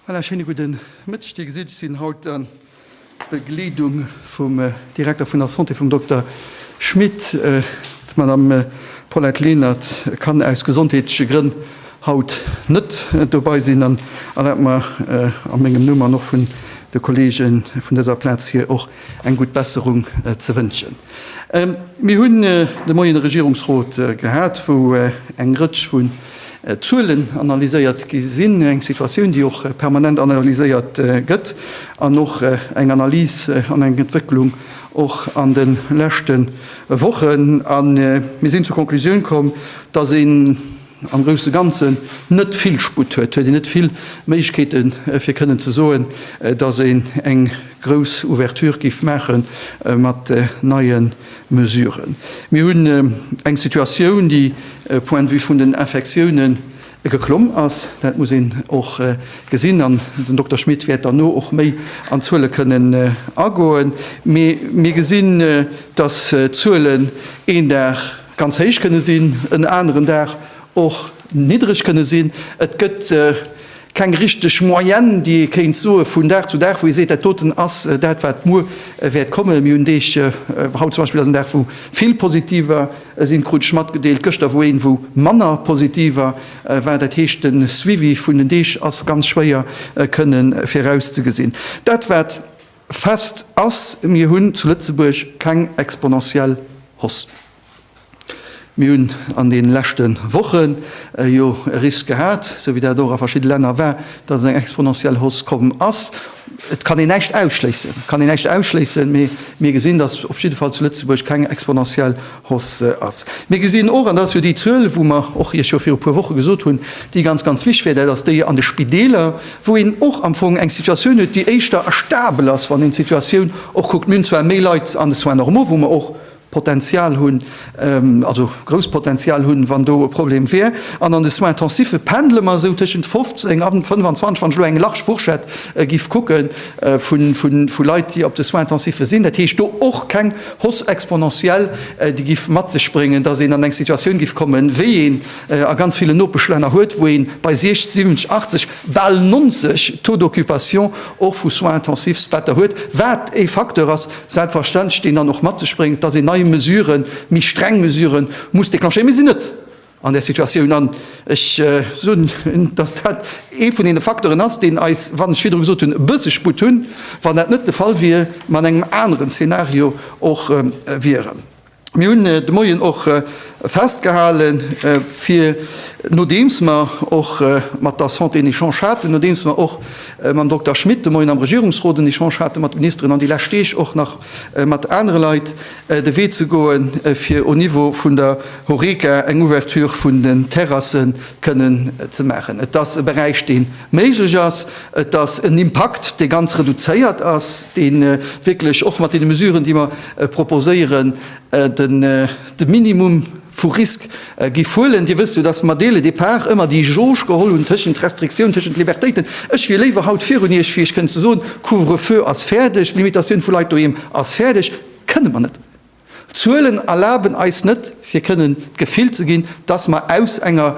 Voilà, schéine gudde Mëtteg. Dir gesitt, ech sinn haut a Begleedung vum Direkter vun der Santé, vum Dokter Schmit. D'Madamm Paulette Lenert kann aus gesondheetleche Grënn haut net dobei sinn an erlaabt mer a mengem Numm an och vun de Kollege vun dëser Plaz hir och eng gutt Besserung ze wënschen. Mir hunn de Moien e Regierungsrot gehat, wou eng Rëtsch vu Zuelen analyséiert gi sinn, eng Situatioun, déi och permanent analyséiert gëtt an och eng Analys an eng Entwécklung och an de leschte Wochen. A mir sinn zur Konklusioun komm, dass een am grousse Ganzen net vill Sputt huet, huet een net vill Méiglechkeete fir kënnen ze soen, dass een eng grouss Ouverture géif maache mat neie Mesuren. Mir hunn eng Situatioun, déi um Point de vue vun den Infektioune geklomm ass. Dat muss een och gesinn. An den Dokter Schmit wäert derno och méi an d'Zuele kënnen agoen. Mee mir gesinn, dass d'Zuelen een Dag ganz héich kënne sinn, en aneren Dag och niddereg kënne sinn. Et gëtt Keng richteg Moyenne, déi ee kéint soe vun Dag zu Dag, wou ee seet, dat doten ass dat, wat muer wäert kommen. Mir hunn Deeg, haut zum Beispill ass en Dag, wou vill positiver sinn, krut ech matgedeelt, gëschter wor een, wou manner positiver war. Dat heescht, de Suivi vun den Deeg ass ganz schwéier kënne virauszegesinn. Dat, wat fest ass, Mir hunn zu Lëtzebuerg keng exponentiell Hausse. Mir hunn an deene leschte Wochen jo e Risk gehat, esou wéi dat och a verschiddene Länner war, dass eng exponentiell Hausse komm ass. Et kann een näischt ausschléissen, et kann een näischt ausschléissen, mee mir gesinn, dass op jidde Fall zu Lëtzebuerg keng exponentiell Hausse ass. Mir gesinn och, an dat ass jo déi Zuel, wou mer och Iech jo viru puer Woche gesot hunn, déi ganz, ganz wichtig wär, dat ass déi an de Spideeler, wou een och am Fong eng Situatioun huet, déi éischter stabel ass, wann een d'Situatioun och kuckt. Mir hunn zwar méi Leit an de Soins normaux, wou mer och, Potenzial hunn, also grousst Potenzial hunn, wann do e Problem wier. An an de Soins intensiffe pendle mer esou tëschent 15 a 25, wann ech elo eng large Fourchette giff kucke vu Leit, déi op de Soins intensiffe sinn. Dat heescht, do och keng Hausse exponentielle, déi giff mat sech bréngen, datt een an eng Situatioun giff kommen, wéi een se a ganz ville Nopeschlänner huet, wou ee bei 60, 70, 80, bal 90 Taux d'occupation och vu Soins intensifs Better huet, wat e Facteur ass, Selbstverständlech stinn dann och matzespréngen, dass een nei Mesuren, méi streng Mesuren muss déclenchéieren. Mir sinn net an där Situatioun an ech soen, dass dat ee vun deene Facteuren ass, deen eis, wann ech virdru gesot hunn, e bësse Sputt hunn, wann dat net de Fall wier, mer an engem aneren Zeenario och wieren. Mir hunn de Moien och festgehalen, fir, nodeems mer och mat der Santé en Echange haten, nodeems mer och mam Dokter Schmit de Moien am Regierungsrot en Echange hate mat Ministeren an déi lescht Deeg och nach mat anere Leit, de Wee ze goen, fir au Niveau vun der Horeca eng Ouverture vun den Terrassen kënnen ze maachen. Et ass e Beräich, deen Méiglech ass et, dass en Impakt, dee ganz reduzéiert ass, dee wierklech och mat deene Mesuren, déi mer proposéieren, de Minimum vu Risk géif huelen. Dir wësst jo, dass mer dès le départ ëmmer déi Jauge geholl hunn tëschent Restriktioun, tëschent Libertéiten. Ech wier léiwer haut virun Iech, fir Iech kënnen ze soen, Couvre-feu ass fäerdeg, Limitatioun vu Leit doheem ass fäerdeg. Kënne mer net. D'Zuelen erlaben eis net, fir kënnen d'Gefill ze ginn, dass mer aus enger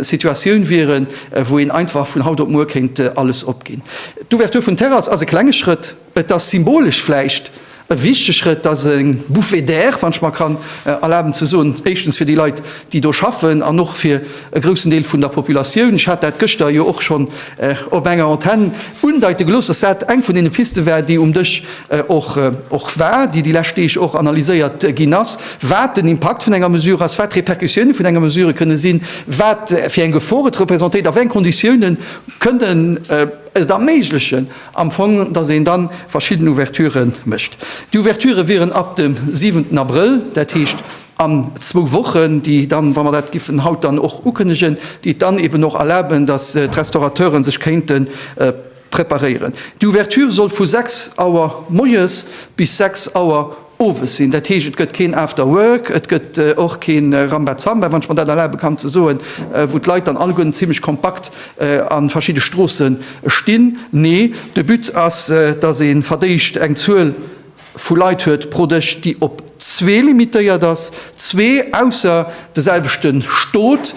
Situatioun wieren, wou een einfach vun haut op muer kéint alles opginn. D'Ouverture vun Terrasse ass e klenge Schrëtt. Et ass symbolesch vläicht e wichtege Schrëtt. Et ass e Bouffée d'air, wann ech mer kann erlaben ze soen, éischtens fir déi Leit, déi do schaffen, an och fir e groussen Deel vun der Populatioun. Ech hat dat gëschter jo och schonn op enger Antenn undeite gelooss, dass dat eng vun deene Piste war, déi um Dësch och war, déi déi lescht Deeg och analyséiert ginn ass, wat den Impakt vun enger Mesure ass, wat d'Repercussioune vun enger Mesure kënne sinn, wat fir eng Gefor et representéiert, a wéi eng Konditioune kënnen et erméiglechen am Fong, datt een da verschidden Ouverture mécht. Déi Ouverture wieren ab dem siwenten Abrëll, dat heescht an zwou Wochen, déi dann, wa mer dat giffen haut dann och ukënnegen, déi et dann eeben och erlaben, datt d'Restaurateure sech kéinte Preparéieren. D'Ouverture soll vu 6 Auer moies bis 6 Auer owes sinn. Dat heescht, et gëtt keen After Work, et gëtt och keen Rambazamba, wann ech mer dat erlabe kann ze soen, wou d'Leit dann alleguerten zimlech kompakt an verschidde Stroossen stinn. Nee, de But ass, dass een verdéischt eng Zuel. vu Leit huet pro Dësch, déi op zwee limitéiert ass, zwee ausser de selwechte Stot,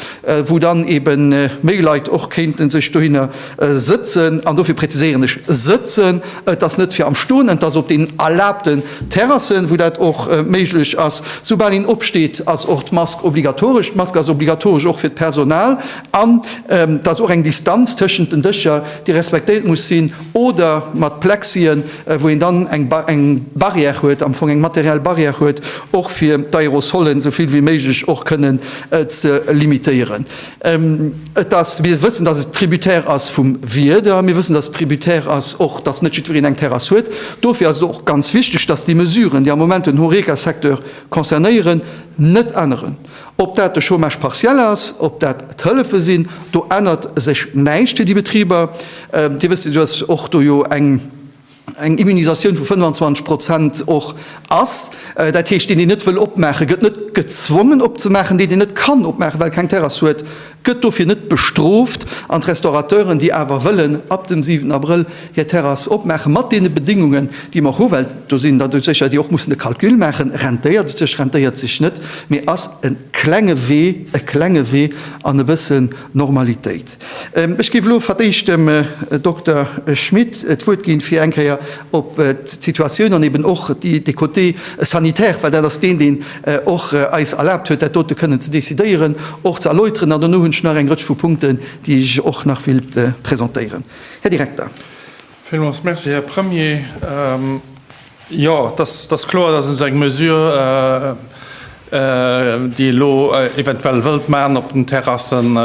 wou dann eebe méi Leit och kéinte sech dohinner sëtzen. An dofir präziséieren ech sëtzen, et ass net fir am Stoen, et ass op den erlaabten Terrassen, wou dat och méiglech ass. Soubal een opsteet, ass och d'Mask obligatoresch. D'Mask ass obligatoresch och fir d'Personal an et ass och eng Distanz tëschent den Dëscher, déi respektéiert muss sinn. oder mat Plexien, wou een dann eng Barrière huet, am Fong eng materiell Barrière huet, och fir d'Aerosolen esou vill wéi méiglech och kënnen ze limitéieren. Et ass, mir wëssen, dass et tributaire ass vum Wieder, mir wëssen, dass et tributaire ass och, dass net jiddwereen eng Terrass huet. Dofir ass et och ganz wichtig, dass déi Mesuren, déi am Moment den Horeca-Secteur concernéieren, net änneren. Ob dat de Chômage partiel ass, ob dat d'Hëllefe sinn, do ännert sech näischt fir déi Betriber. Dir wësst jo, dass och do jo eng Immunisatioun vu 25 Prozent och ass. Dat heescht, deen, deen net wëll opmaachen, gëtt net gezwongen opzemaachen. Deen, deen net kann opmaachen, well keng Terrass huet, gëtt dofir net bestrooft an d'Restaurateuren, déi awer wëllen ab dem 7 Abrëll hir Terrass opmaachen, mat deene Bedingungen, déi mer och hu, well do sinn der doudsécher, déi och mussen de Calcul maachen, rentéiert et sech, rentéiert et sech net, mee ass e klenge Wee, e klenge Wee an e bëssen Normalitéit. Ech géif elo fir d'éischt dem Dokter Schmit d'Wuert ginn, fir eng Kéier op d'Situatioun an eeben och de Côté sanitaire, well dat ass deen, deen, och eis erlaabt huet, dat dote kënnen ze décidéieren, och ze erläuteren. An dono hunn ech nach eng Rëtsch vu Punkten, déi ech och nach wéilt presentéieren. Här Direkter. Villmools Merci, Här Premier. Jo, et ass kloer, dass ech eng Mesure, déi ee elo eventuell wëllt maachen op den Terrassen,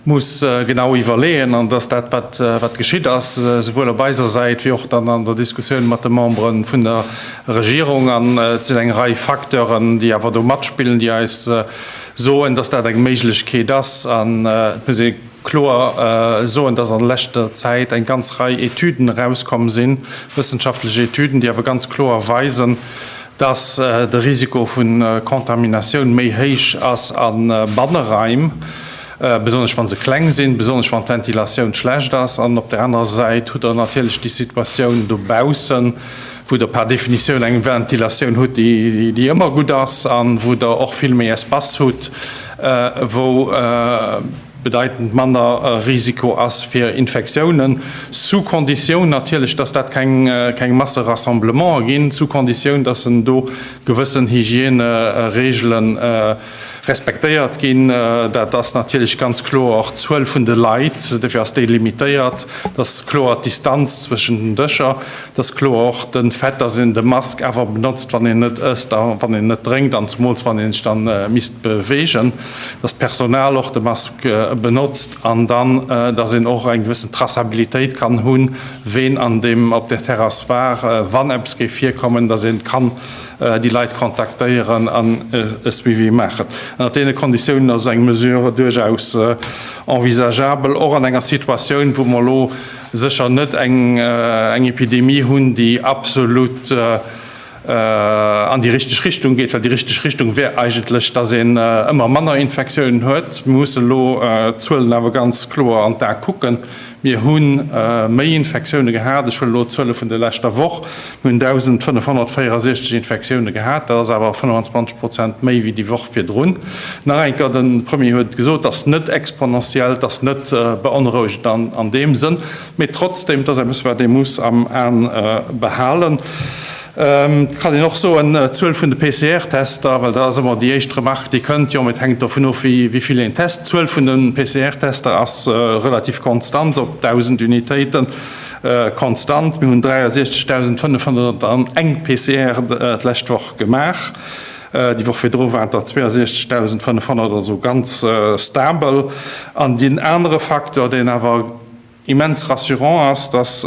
muss genau iwwerleeën, an dass dat, wat geschitt ass, souwuel op eiser Säit wéi och dann an der Diskussioun mat de Membere vun der Regierung, an et sinn eng Rei Facteuren, déi awer do matspillen, déi eis soen, dass dat eng Méiglechkeet ass. An et muss ee kloer soen, dass an leschter Zäit eng ganz Rei Etüden erauskomm sinn, wëssenschaftlech Etüden, déi awer ganz kloer weisen, dass de Risiko vu Contaminatioun méi héich ass a Banneraim, besonnesch wa se kleng sinn, besonnesch wann d'Ventilatioun schlecht ass, an op der anerer Säit hutt Der natierlech déi Situatioun dobaussen, wou Der par Definitioun eng Ventilatioun hutt, déi ëmmer gutt ass an wou Der och vill méi Espace hutt, wou bedeitend manner Risiko ass fir Infektiounen, sous condition natierlech, dass dat keng Masserassemblementer ginn, sous condition, dass en do gewëssen Hygièneregelen Respektéiert ginn. Dat ass natierlech ganz kloer och d'Zuel vun de Leit. Dofir ass déi limitéiert. Dat ass kloer d'Distanz zwëschen den Dëscher. Dat ass kloer och de Fait, dass een de Mask awer benotzt, wann een net ësst a wann een net drénkt an zemools wann een sech da misst beweegen, dass d'Personal och de Mask benotzt an dann, dass een och eng gewëssen Traçabilitéit kann hunn, ween an deem op där Terrass war, wann eppes géif virkommen, dass een kann, déi Leit kontaktéieren an e Suivi maachen. Ënnert deene Konditiounen ass eng Mesure duerchaus envisagabel, och an enger Situatioun, wou mer elo sécher net eng Epidemie hunn, déi absolut an déi richteg Richtung geet, well déi richteg Richtung wär eigentlech, dass een ëmmer manner Infektiounen huet. Mir mussen elo d'Zuelen awer ganz kloer an d'A kucken. Mir hu méi Infektioune gehat, ech huelen elo d'Zuele vun der leschter Woch, mir hunn 1.564 Infektioune gehat, dat ass awer 25 Prozent méi wéi déi Woch virdrun. Nach eng Kéier, de Premier huet et gesot, et ass net exponentiell, et ass net beonrouegend an deem Sënn, mee trotzdem, et ass eppes, wat ee muss am Aen behalen. Et kann een och soen, d'Zuel vun de PCR-Tester, well dat ass ëmmer déi éischt Remark, déi kënnt, jo, mee et hänkt dovun of, wéi vill een test. D'Zuel vun de PCR-Tester ass relativ konstant op 1.000 Unitéiten konstant. Mir hunn 63.501 PCR d'lescht Woch gemaach. Déi Woch virdru waren der 62.500, also ganz stabel. An deen anere Facteur, deen awer Immens rassurant ass, datt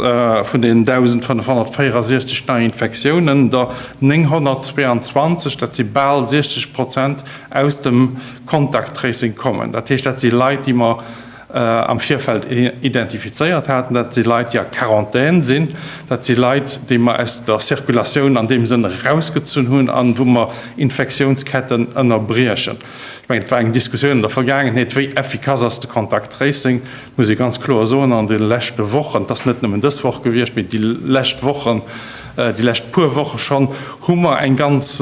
vun den 1.564 Neiinfektiounen der 922, dat si bal 60 Prozent, aus dem Contact Tracing kommen. Dat heescht, dat si Leit, déi mer am Virfeld identifizéiert haten. Dat si Leit, déi a Quarantän sinn. Dat si Leit, déi mer aus der Zirkulatioun an deem Sënn erausgezunn hunn an wou mer Infektiounsketten ënnerbriechen. Ech mengen, et war eng Diskussioun an der Vergaangenheet, wéi effikass ass de Contact Tracing. Ech muss ee ganz kloer soen, an de leschte Wochen, et ass net nëmmen dës Woch gewiescht, mee déi lescht Wochen, déi lescht puer Woche schonn, hu mer e ganz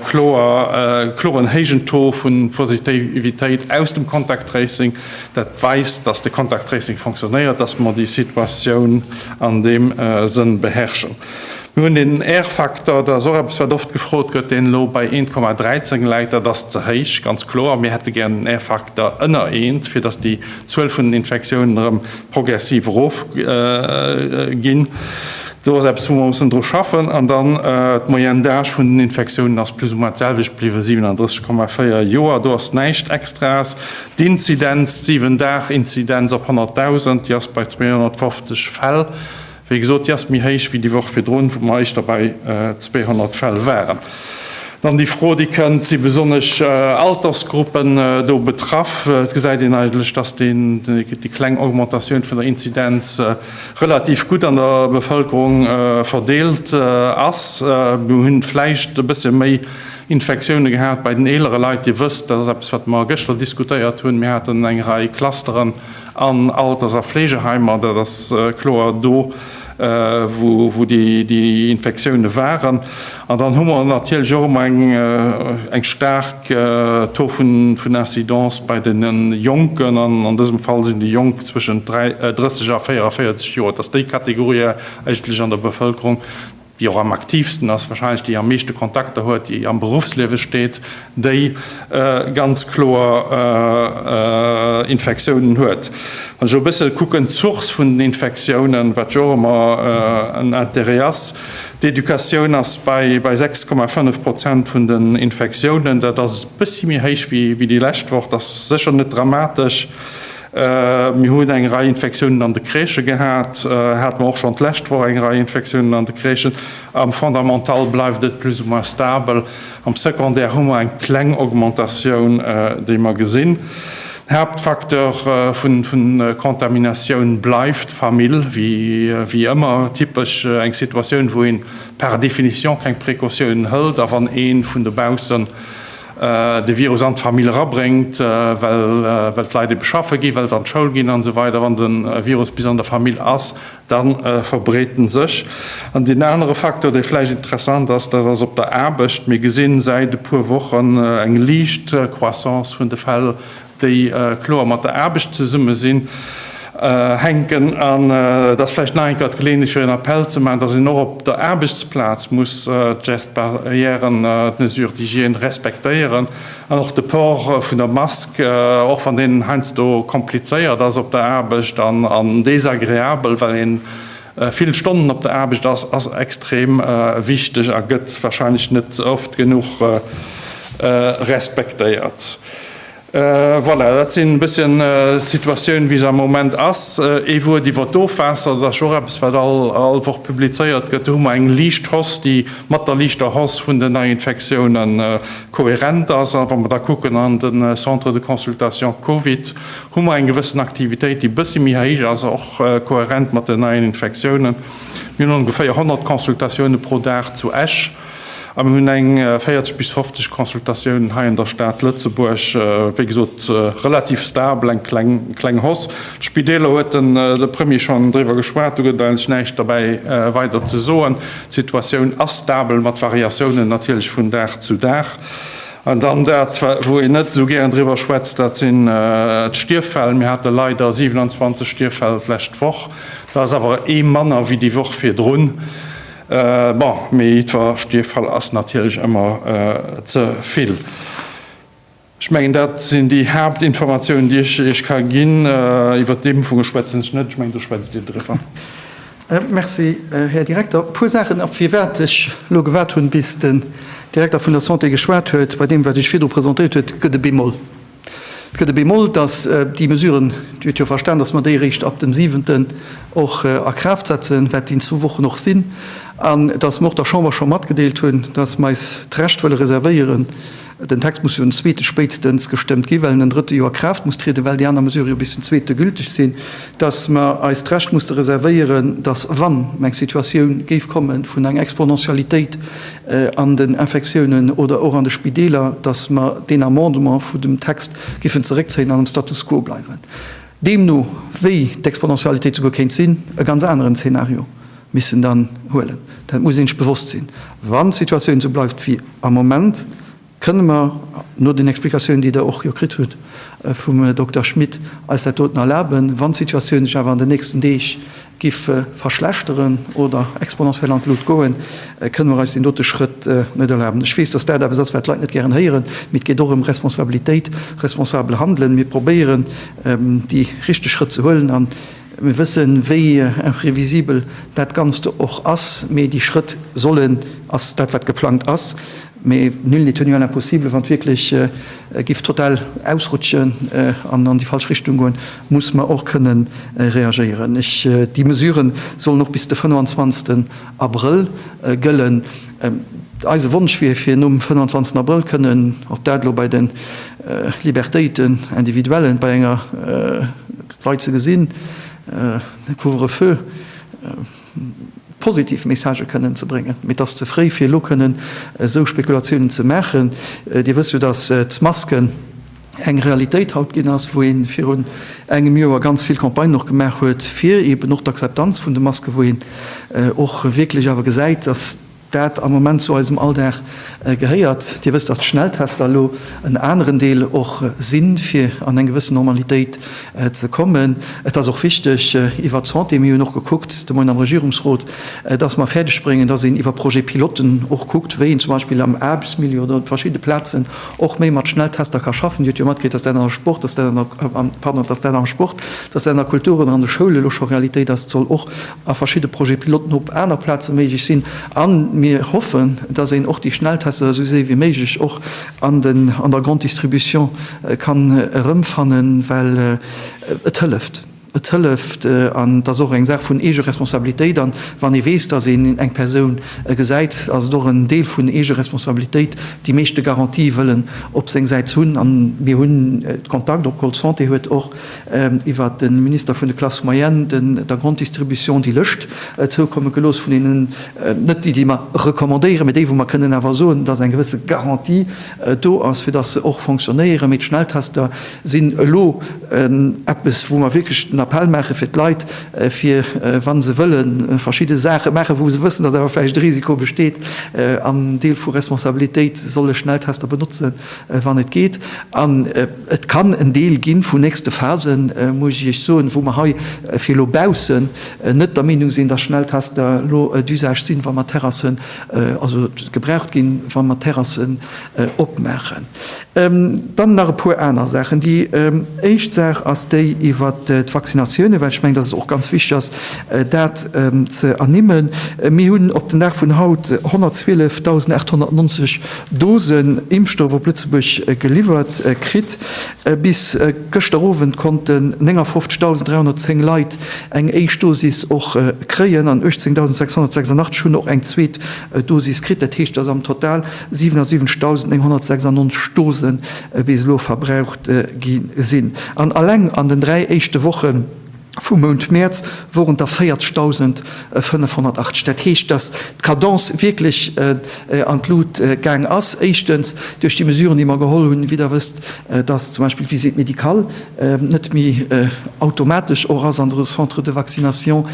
kloren héijen Taux vu Positivitéit aus dem Contact Tracing. Dat weist, dass de Contact Tracing fonctionnéiert, dass mer déi Situatioun an deem Sënn beherrschen. Mir hunn den Airfaktor, dat ass och eppes, wat oft gefrot gëtt, deen elo bei 1,13 läit. Dat ass ze héich, ganz kloer. Mir hätte gär en Airfaktor ënner eent, fir dass déi D'Zuel vun den Infektiounen erëm progressiv erof ginn. Do ass eppes, wou mer mussen dru schaffen. An dann d'Moyenne d'âge vun den Infektiounen ass plus ou moins d'selwecht bliwwen, 37,4 Joer. Do ass näischt Extraes. D'Inzidenz, d'Siwen-Dag-Inzidenz op 100.000, déi ass bei 250 Fäll. Wéi gesot, déi ass méi héich wéi déi Woch virdrun, wou mer éischter bei 200 Fäll waren. Dann déi Fro, déi kënnt, Si besonnesch Altersgruppen do betraff? Et gesäit een eigentlech, dass déi kleng Augmentatioun vun der Inzidenz relativ gutt an der Bevëlkerung verdeelt ass. Mir hu vläicht e bësse méi Infektioune gehat bei den eelere Leit. Dir wësst, dat ass eppes, wat mer gëschter diskutéiert hunn, mir haten eng Rei Clusteren An Alters a Fleegeheimer, dat ass kloer do, wou déi Infektioune waren. An dann hu mer natierlech och ëmmer eng staark Taux vun Incidence bei de Jonken. An an dësem Fall sinn déi Jonk zwëschent 30 a 44 Joer. Et ass déi Kategorie eigentlech an der Bevëlkerung, déi och am aktiivsten ass, wahrscheinlech déi am meeschte Kontakter huet, déi am Beruffsliewe steet, déi ganz kloer Infektiounen huet. Wann ech elo e bësse kucken, d'Source vun den Infektiounen, wat jo och ëmmer en Interêt ass, d'Educatioun ass bei 6,5 Prozent vun den Infektiounen. Dat ass e bëssi méi héich wéi déi lescht Woch. Dat ass sécher net dramatesch. Mir hunn eng Rei Infektiounen an de Crèchë gehat, hate mer och schonn d'lescht Woch eng Rei Infektiounen an de Crèchen. Am Fondamental bleift et plus ou moins stabel. Am Secondaire hu mer eng kleng Augmentatioun, déi mer gesinn. Den Haaptfacteur vu Contaminatioun bleift d'Famill, wéi ëmmer typesch eng Situatioun, wou ee par définition keng Precautiounen hëlt a wann ee vun dobaussen de Virus an d'Famill erabréngt, well d'Leit ebe schaffe ginn, well se an d'Schoul ginn an esou weider. Wann de Virus bis an der Famill ass, da verbreet en sech. An deen anere Facteur, dee vläicht interessant ass, dat ass op der Aarbecht. Mir gesinn säit e puer Wochen eng liicht Croissance vun de Fäll déi kloer mat der Aarbecht zesumme sinn, hänken, an et ass vläicht nach eng Kéier d'Geleeënheet fir en Appell ze maachen, datt een och op der Aarbechtsplaz muss d'Gestes barrièren, d'Mesures d'hygiène respektéieren an och de Port vun der Mask, och wann deen heiansdo komplizéiert ass op der Aarbecht an desagreabel, well ee vill Stonnen op der Aarbecht ass, ass extrem wichteg a gëtt warscheinlech net oft genuch respektéiert. Voilà, dat sinn e bësschen d'Situatioun, wéi se am Moment ass. Ee Wuert iwwert d'Ofwaasser, dat ass jo och eppes, wat all Woch publizéiert gëtt. Do hu mer eng liicht Hausse, déi mat der liichter Hausse vun den Neiinfektioune kohärent ass. A wa mer da kucken an de Centre de consultation Covid, hu mer eng gewëssen Aktivitéit, déi e bësse méi héich ass, och kohärent mat den neien Infektiounen. Mir hunn ongeféier 100 Consultatioune pro Dag zu Esch. A mir hunn eng 40 bis 50 Consultatiounen hei an der Stad Lëtzebuerg. Wéi gesot, relativ stabel, eng kleng Hausse. D'Spideeler huet den de Premier schonn driwwer geschwat, do gëtt et eigentlech näischt derbäi weider ze soen. D'Situatioun ass stabel, mat Variatiounen natierlech vun Dag zu Dag. An dann dat, wou een net esou gären driwwer schwätzt, dat sinn d'Stierffäll. Mir hate leider 27 Stierffäll d'lescht Woch. Dat ass awer ee manner wéi déi Woch virdrun. Bon, mee jiddwer Stierffall ass natierlech ëmmer ze vill. Ech mengen, dat sinn déi Haaptinformatiounen, déi ech Iech ka ginn. Iwwert d'Impfunge schwätzen ech net. Ech mengen, do schwätzt Dir driwwer. Merci, Här Direkter. E puer Saachen, op firwat ech elo gewaart hunn, bis den Direkter vun der Santé geschwat huet. Bei deem, wat Dir virdru presentéiert huet, gëtt e Bémol. Et gëtt e Bemol, dass déi Mesuren, Dir hutt jo verstan, dass mer déi eréischt ab dem Siwenten och a Kraaft setzen, wat déi zwou Wochen och sinn, an dass mer och der Chamber scho matgedeelt hunn, dass mer eis d'Recht wëlle reservéieren, den Text muss jo den zweete spéitstens gestëmmt ginn, well en den drëtte jo a Kraaft muss trieden, well déi aner Mesurë jo bis den zweete gülteg sinn. dass mer eis d'Recht musste reservéieren, dass, wann eng Situatioun géif komme vun enger Exponentialitéit an den Infektiounen oder och an de Spideeler, dass mer deen Amendement vun dem Text géifen zeréckzéien an am Status quo bleiwen. Deemno wéi d'Exponentialitéit souguer kéint sinn, e ganz aneren Zeenario missten dann huelen. Dat muss ee sech bewosst sinn, wann d'Situatioun esou bleift wéi am Moment. Kënne mer, no den Explikatiounen, déi Der och jo kritt hutt vum Dokter Schmit, eis dat doten erlaben, wann d'Situatioun sech awer an den nächsten Deeg giff verschlechteren oder exponentiell an d'Lut goen, kënne mer eis deen dote Schrëtt net erlaben? Ech weess, dass dat eppes ass, wat d'Leit net gären héieren, mee et geet och ëm Responsabilitéit, responsabel Handelen. Mir probéieren, déi richteg Schrëtt ze huelen a mir wëssen, wéi imprevisibel dat Ganzt och ass, mee déi Schrëtt sollen, ass dat, wat geplangt ass, Mais nul n'est tenu à l'impossible, wann et wierklech giff total ausrutschen an an déi falsch Richtung goen, muss mer och kënnen reagéieren. Ech, déi Mesuren sollen och bis de 25. Abrëll gëllen. Eise Wonsch wier, fir nom 25. Abrëll kënnen, ob dat elo bei de Libertéiten individuellen, bei enger Leit ze gesinn, de Couvre-feu, positiv Messagë kënnen ze bréngen. Mee et ass ze fréi fir elo kënnen esou Spekulatiounen ze maachen. Dir wësst jo, datt d'Masken eng Realitéit haut ginn ass, wou ee virun engem Joer ganz vill Campagnen och gemaach huet fir eeben och d'Akzeptanz vun de Masken, wou een och wierklech awer gesäit, datt dat am Moment zu eisem Alldag gehéiert. Dir wësst, datt d'Schnelltester elo en aneren Deel och sinn, fir an eng gewëssen Normalitéit ze kommen. Et ass och wichteg iwwert d'Santé, mir hunn och gekuckt de Moien am Regierungsrot, datt mer fäerdeg bréngen, datt een iwwer Projet-pilotten och kuckt, wéi een zum Beispill am Aarbechtsmilieu oder op verschidde Plazen och méi mat Schnelltester ka schaffen. Dir hutt jo matkritt, datt dat an der Sport, datt dat an der, pardon, datt dat am Sport, datt dat an der Kultur oder an de Schoule elo scho Realitéit ass. Et soll och a verschidde Projet piloten op aner Plaze méiglech sinn, a mir hoffen, dass een och déi Schnelltester esou séi wéi méiglech och an der Grande Distribution kann erëmfannen, well et hëlleft. Et hëlleft an et ass och eng Saach vun Eegeresponsabilitéit, a wann ee weess, dass een eng Persoun gesäit, ass et och en Deel vun Eegeresponsabilitéit, déi meeschte Garantie wëllen op seng Säit hunn. A mir hunn Kontakt, och d'Call Santé huet och iwwert de Minister vun de Classes moyennes, de der Grande Distribution déi Lëscht zoukomme gelooss vun deenen, net déi, déi mer recommandéieren, mä déi, wou mer kënnen awer soen, dass eng gewësse Garantie do ass, fir dass se och fonctionnéieren. Mee d'Schnelltester sinn elo eppes, wou mer wierklech den Appell maache fir d'Leit, fir wa se wëlle verschidde Saache maachen, wou se wëssen, dass awer vläicht e Risiko besteet, am Deel vu Responsabilitéit, solle Schnelltester benotzen, wann et geet. Et kann en Deel gi vun nächste Phasen, muss ech Iech soen, wou mer hei fir elo baussen net der Meenung sinn, dass Schnelltester elo d'Usage sinn, wa mer d'Terrassen, also gebraucht ginn, wa mer d'Terrassen opmaachen. Dann nach e puer aner Saachen. Déi éischt Saach ass déi iwwert d'Vaccinatiounen, well ech mengen, dass et och ganz wichtig ass, dat ze ernimmen. Mir hunn op den Dag vun haut 112.890 Dosen Impfstoff op Lëtzebuerg geliwwert kritt. Bis gëschter Owend konnten 59.310 Leit eng éischt Dosis och kréien an 18.686 hunn och eng zweet Dosis kritt. Dat heescht, datt am Total 77.996 Dose bis elo verbraucht gi sinn. An alleng an den dräi éischte Wochen, Vum Mount Mäerz woren der 40.508. Dat heescht, dass d'Cadence wierklech an d'Lut gaang ass. Éischtens duerch déi Mesuren, déi mer geholl hunn, wéi Der wësst, dass zum Beispill d'Visite médicale net méi automatesch och ass an de Centres de vaccination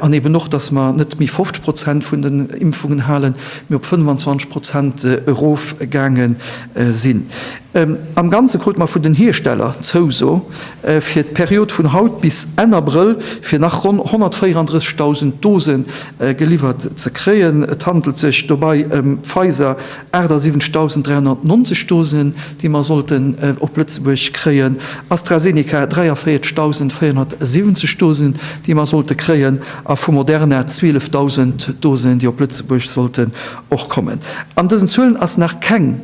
an eben och, dass mer net méi 50 Prozent vun den Impfungen halen, mee op 25 Prozent erofgaange sinn. Am Ganze krute mer vun den Hiersteller d'Zouso, fir d'Period vun haut bis Enn Abrëll fir nach ronn 134.000 Dose geliwwert ze kréien. Et handelt sech dobäi ëm Pfizer 78.390 Dosen, déi mer sollten op Lëtzebuerg kréien, AstraZeneca 43.470 Dosen, déi mer sollte kréien, a vu Moderna 12.000 Dosen, déi op Lëtzebuerg sollten och kommen. An dësen Zuelen ass nach keng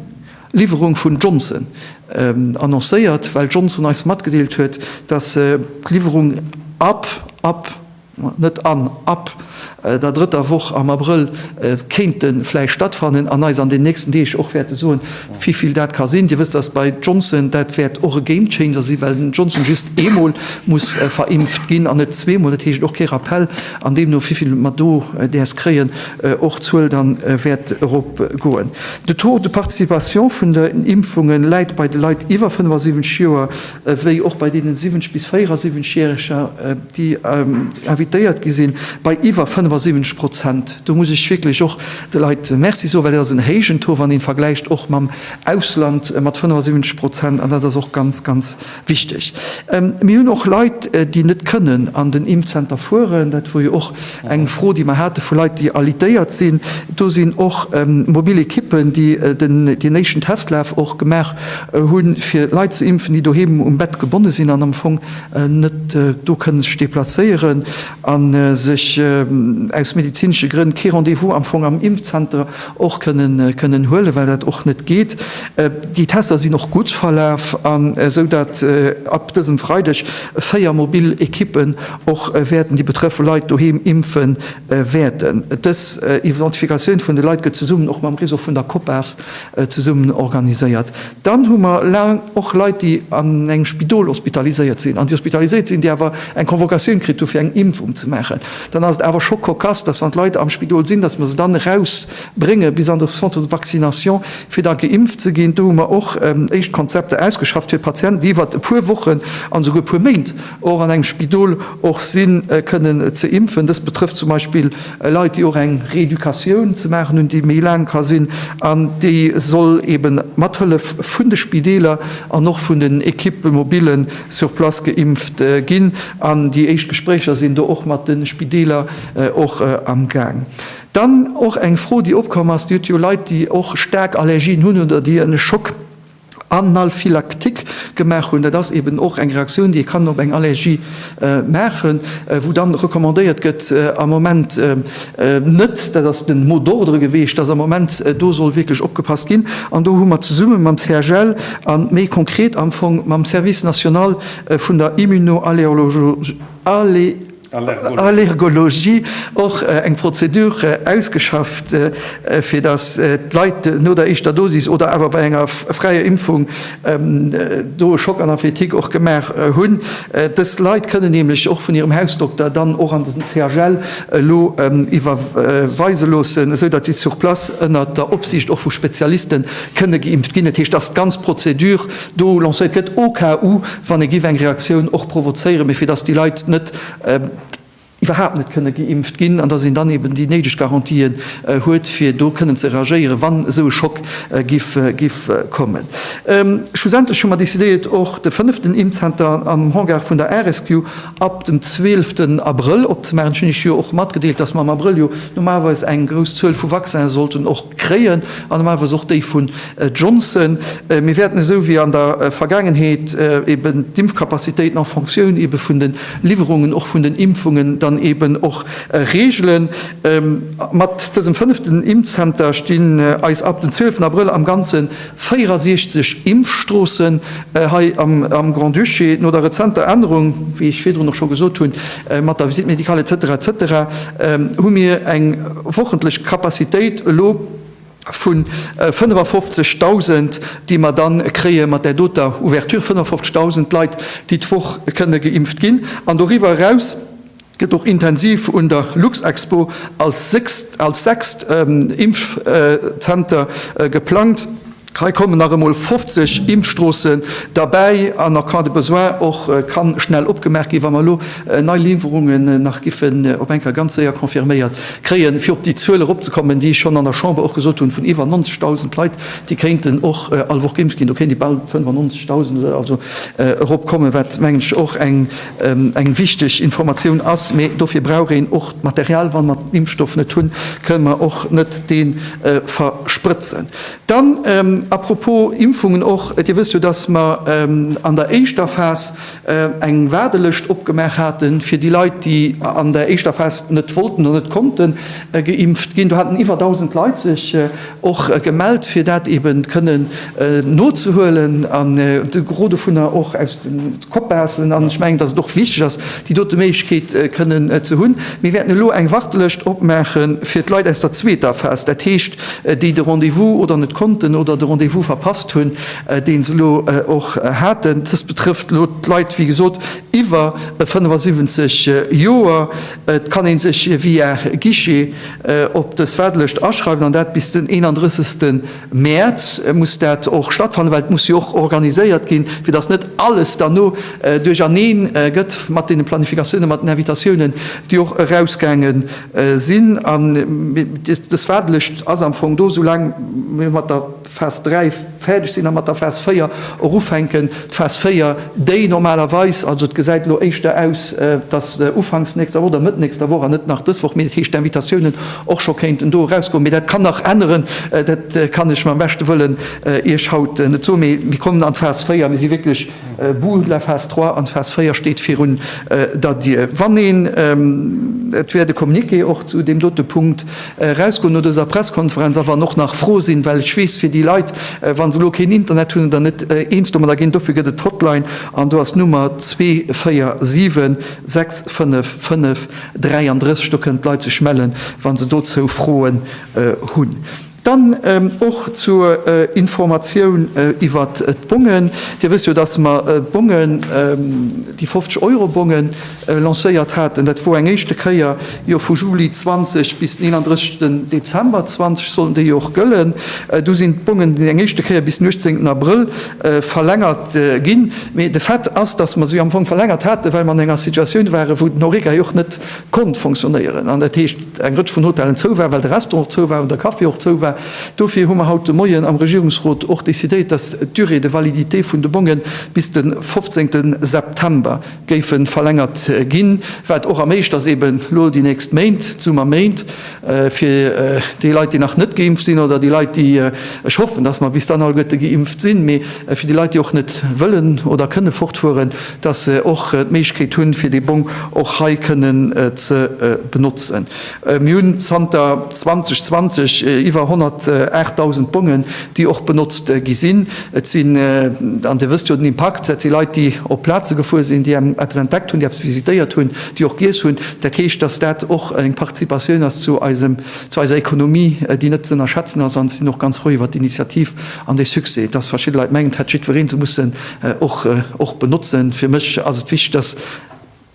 Liwwerung vun Johnson annoncéiert, well Johnson eis matgedeelt huet, datt se d'Liwwerung ab ab net an ab der drëtter Woch am Abrëll kéinte vläicht stattfannen, an eis an den nächsten Deeg och wäerte soen, wivill dat ka sinn. Dir wësst, datt bei Johnson dat wäert och e Game Changer sinn, well den Johnson just eemol muss verimpft ginn an net zweemol, dat heescht och kee Rappell, an deemno wivill mer do däers kréien, och d'Zuel da wäert erop goen. De Taux de participation vun den Impfungen läit bei de Leit iwwer 75 Joer ewéi och bei deenen 70 bis 74 Jähreger, déi invitéiert gi sinn, bei iwwer 75 Prozent. Do muss ech wierklech och de Leit Merci soen, well dat ass en héijen Taux, wann een vergläicht och mam Ausland mat 75 Prozent, an dat ass och ganz, ganz. Wichteg. Mir hunn och Leit, déi net kënnen an den Impfzenter fueren. Dat wor jo och eng Fro, déi mer hate vu Leit, déi alitéiert sinn. Do sinn och mobil Ekippen, déi deen éischten Testlaf och gemaach hunn, fir Leit ze impfen, déi doheem um Bett gebonne sinn an am Fong net do kënne sech deplacéieren a sech aus medezinesche Grënn kee Rendez-vous am Fong am Impfzenter och kënnen huelen, well dat och net geet. Déi Tester sinn och gutt verlaf, esou datt ab dësem Freideg véier mobil Ekippen och wäerten déi betrëffe Leit doheem impfe wäerten. Dës Identifikatioun vun de Leit gëtt zesummen och mam Réseau vun der Copas zesummen organiséiert. Dann hu mer och Leit, déi an engem Spidol hospitaliséiert sinn an déi hospitaliséiert sinn, déi awer eng Convocatioun kritt hu fir eng Impfung ze maachen. Dann ass et awer scho cocasse, datt wann d'Leit am Spidol sinn, datt mer se dann erausbrénge bis an de Centre de vaccination, fir da geimpft ze ginn. Do hu mer och éischt Konzepter ausgeschafft fir Patienten, déi iwwert e puer Wochen an esouguer e puer Méint och an engem Spidol och sinn, kënnen ze impfen. Dëst betrëfft zum Beispill Leit, déi och eng Reeducatioun ze maachen hunn, déi méi laang ka sinn an déi soll eben mat Hëllef vun de Spideeler an och vun den Equippë mobile sur place geimpft ginn. An déi éischt Gespréicher sinn do och mat de Spideeler och am Gaang. Dann och eng Fro, déi opkomm ass, Dir hutt jo Leit, déi och staark Allergien hunn oder déi e Schock Analphylaktik gemaach hunn. Dat ass eben och eng Reaktioun, déi ee kann op eng Allergie maachen, wou dann recommandéiert gëtt am Moment net, dat ass den mot d'ordre geweecht, dass am Moment do soll wierklech opgepasst ginn. An do hu mer zesumme mam CHL a méi konkret am Fong mam Service national vun der Immunoallergologie, Allergologie och eng Prozedure ausgeschafft, fir datt d'Leit no der éischter Dosis oder awer bei enger fräier Impfung do e Choc anaphyletique och gemaach hunn. Dës Leit kënnen nämlech och vun hirem Hausdokter dann och an den CHL elo iwwerweise loossen, esou datt si sur place ënnert der Opsiicht och vu Spezialiste kënne geimpft ginn. Dat heescht, datt d'ganz Prozedure do lancéiert gëtt, au cas où, wann ee giff eng Reaktioun och provozéieren, mee fir dass déi Leit net iwwerhaapt net kënne geimpft ginn an dass een dann eben déi néideg Garantien huet, fir do kënnen ze reagéieren, wann esou e Schock giff kommen. Schlussendlech hu mer decidéiert, och de fënneften Impfzenter am Hangar vun der RSQ ab dem zwielften Abrëll opzemaachen. Ech hunn Iech jo och matgedeelt, dass mer am Abrëll jo normalerweis eng grouss Zuel vu Vaccin sollten och kréien an normalerweis och déi vun Johnson, Mir wäerten esou wéi an der Vergaangenheet eeben d'Impfkapazitéiten en Fonctioun eebe vun de Liwwerungen och vun den Impfungen dann eeben och regelen. Mat dësem fënneften Impfzenter stinn eis ab den 12 Abrëll am Ganze 64 Impfstroossen hei am Grand-Duché. No der rezenter Ännerung, wéi ech virdrun och scho gesot hunn, mat der Visite médicale etc etc hu mir eng wochentlesch Kapazitéit elo, Vu 55.000, déi mer da kréie mat där doter Ouverture, 55.000 Leit, déi d'Woch kënne geimpft ginn. An doriwwer eraus gëtt och intensiv un der Luxexpo als sechst Impfzenter geplangt. Hei kommen nach emol 50 Impfstroossen derbäi an en cas de besoin och ka schnell opgemaach ginn, wa mer elo nei Liwwerungen nach giffen op eng Kéier ganz séier confirméiert Kréien, fir op déi Zuel eropzekommen, déi ech schonn an der Chamber och gesot hunn, vun iwwer 90.000 Leit, déi kéinten och all Woch geimpft ginn, do kéint ee bal 95.000 oder esou eropkommen, wat, mengen ech, och eng wichteg Informatioun ass. Mee dofir brauch een och d'Material. Wa mer den Impfstoff net hunn, kënnen mer och net dee versprëtzen. Dann, à propos Impfungen och, Dir wësst jo, dass mer an der éischter Phas eng Waardelëscht opgemaach haten, fir déi Leit, déi an der éischter Phas net wollten oder net konnten geimpft ginn. Do haten iwwer 1.000 Leit sech och gemellt, fir dat eben kënnen nozehuelen, an de Gros dovunner och aus de Copassen. An ech mengen, datt et och wichteg ass, déi dote Méiglechkeet kënnen ze hunn. Mir wäerten elo eng Wartelëscht opmaache fir d'Leit aus der zweeter Phas, dat heescht, déi de Rendez-vous oder net konnten oder de Rendez-vous verpasst hunn. deen se elo och haten. Dëst betrëfft elo d'Leit, wéi gesot, iwwer 75 Joer. Et kann ee sech via Guichet op dës Waardelëscht aschreiwen, an dat bis den 31 Mäerz muss dat och stattfannen, well et muss jo och organiséiert ginn, fir datt net alles dann no duercherneen gëtt mat deene Planifikatiounen, mat den Invitatiounen, déi och erausgaange sinn. An dës Waardelëscht ass am Fong do, soulaang mir mat der. Phas 3 fäerdeg sinn a mat der Phas 4 och ufänken. D'Phas 4, déi normalerweis, also et gesäit elo éischter aus, datt ufanks nächster Woch oder Mëtt nächster Woch an net nach dës Woch, mee dat heescht d'Invitatiounen och scho kéinten do erausgoen, mee dat kann nach änneren, dat kann ech mam beschte Wëllen Iech haut net soen, mee mir kommen an d'Phas 4, mir si wierklech Bourg, la phase 3 an d'Phase 4 steet virun der Dier. Wann een, et wäert e Communiqué och zu deem dote Punkt erausgoen no dëser Presskonferenz, a wann och nach Froe sinn, well ech weess, fir déi Leit, wa se elo keen Internet hunn oder net eens domadder ginn, dofir gëtt et d'Hotline an do ass d'Nummer 247 655 33, do kënnen d'Leit sech mellen, wa se dozou Froen hunn. Dann och zur Informatioun iwwer d'Bongen. Dir wësst jo, dass mer d'Bongen, déi 50 Euro Bongen lancéiert haten. Dat wor eng éischte Kéier jo vu Juli 20 bis den 31 Dezember 20 sollen déi jo och gëllen. Du sinn d'Bongen eng éischte Kéier bis den 18 Abrëll verlängert ginn. Mee de Fait ass, dass mer se jo am Fong verlängert haten, well mer an enger Situatioun waren, wou den Horeca jo och net konnt fonctionnéieren. eng Rëtsch vun Hotellen zou war, well de Restaurant och zou war an de Café och zou war. Dofir hu mer haut de Moien am Regierungsrot och decidéiert, dass d'Durée de validité vun de Bongen bis de 15 September géife verlängert ginn, wat och erméiglecht ebe lo déi nächst Méint, d'Summerméint, fir déi Leit, déi nach net geimpft sinn, oder déi Leit, déi, ech hoffen, dass mer bis dann alleguerte geimpft sinn, mee fir déi Leit, déi och net wëllen oder kënne fortfueren, dass se och d'Méiglechkeet hunn, fir dee Bong och hei kënnen ze benotzen. Mir hunn zanter 2020 iwwer 108.000 Bongen, déi och benotzt gi sinn. Et sinn, an Dir wësst jo den Impakt, dat si Leit, déi op Plaze gefuer sinn, déi eppes entdeckt hunn, déi eppes visitéiert hunn, déi och giess hunn. Dat heescht, dass dat och eng Participatioun ass zu eisem, zu eiser Ekonomie, déi net z'ënnerschätzen ass. An et sinn och ganz frou iwwert d'Initiativ an dee Succès. Dass verschidde Leit mengen, et hätt jiddweree se mussen Och och benotzen. Fir mech ass et wichteg, dass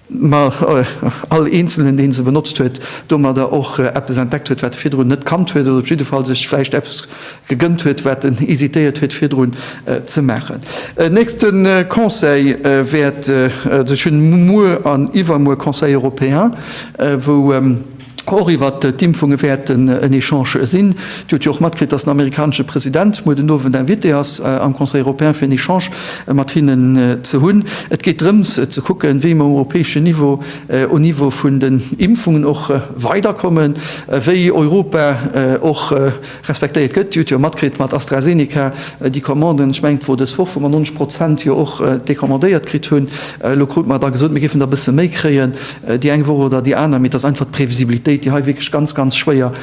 mer all Eenzelnen, dee se benotzt huet, domadder och eppes entdeckt huet, wat e virdrun net kannt huet, oder op jidde Fall sech vläicht eppes gegënnt huet, wat en hesitéiert huet virdrun ze maachen. En nächste Conseil wäert, also ech hunn muer an iwwermuer Conseil européen, wou, och iwwer d'Impfunge wäerten en Echange sinn. Dir hutt jo och matkritt, datt den amerikanesche President muer den Owend invité ass am Conseil européen, fir en Echange mat hinnen ze hunn. Et geet drëms ze kucken, wéi mer um europäeschen Niveau um Niveau vun den Impfungen och weiderkommen, wéi Europa och Respektéiert gëtt. Dir hutt jo matkritt mat AstraZeneca, déi Commanden, ech mengen et wor dës Woch, wou mer 90 Prozent jo och decommandéiert kritt hunn. Elo krute mer da gesot, mir géifen der e bësse méi kréien, déi eng Woch oder déi aner, mee et ass einfach d'Previsibilitéit, déi hei wierklech ganz, ganz schwéier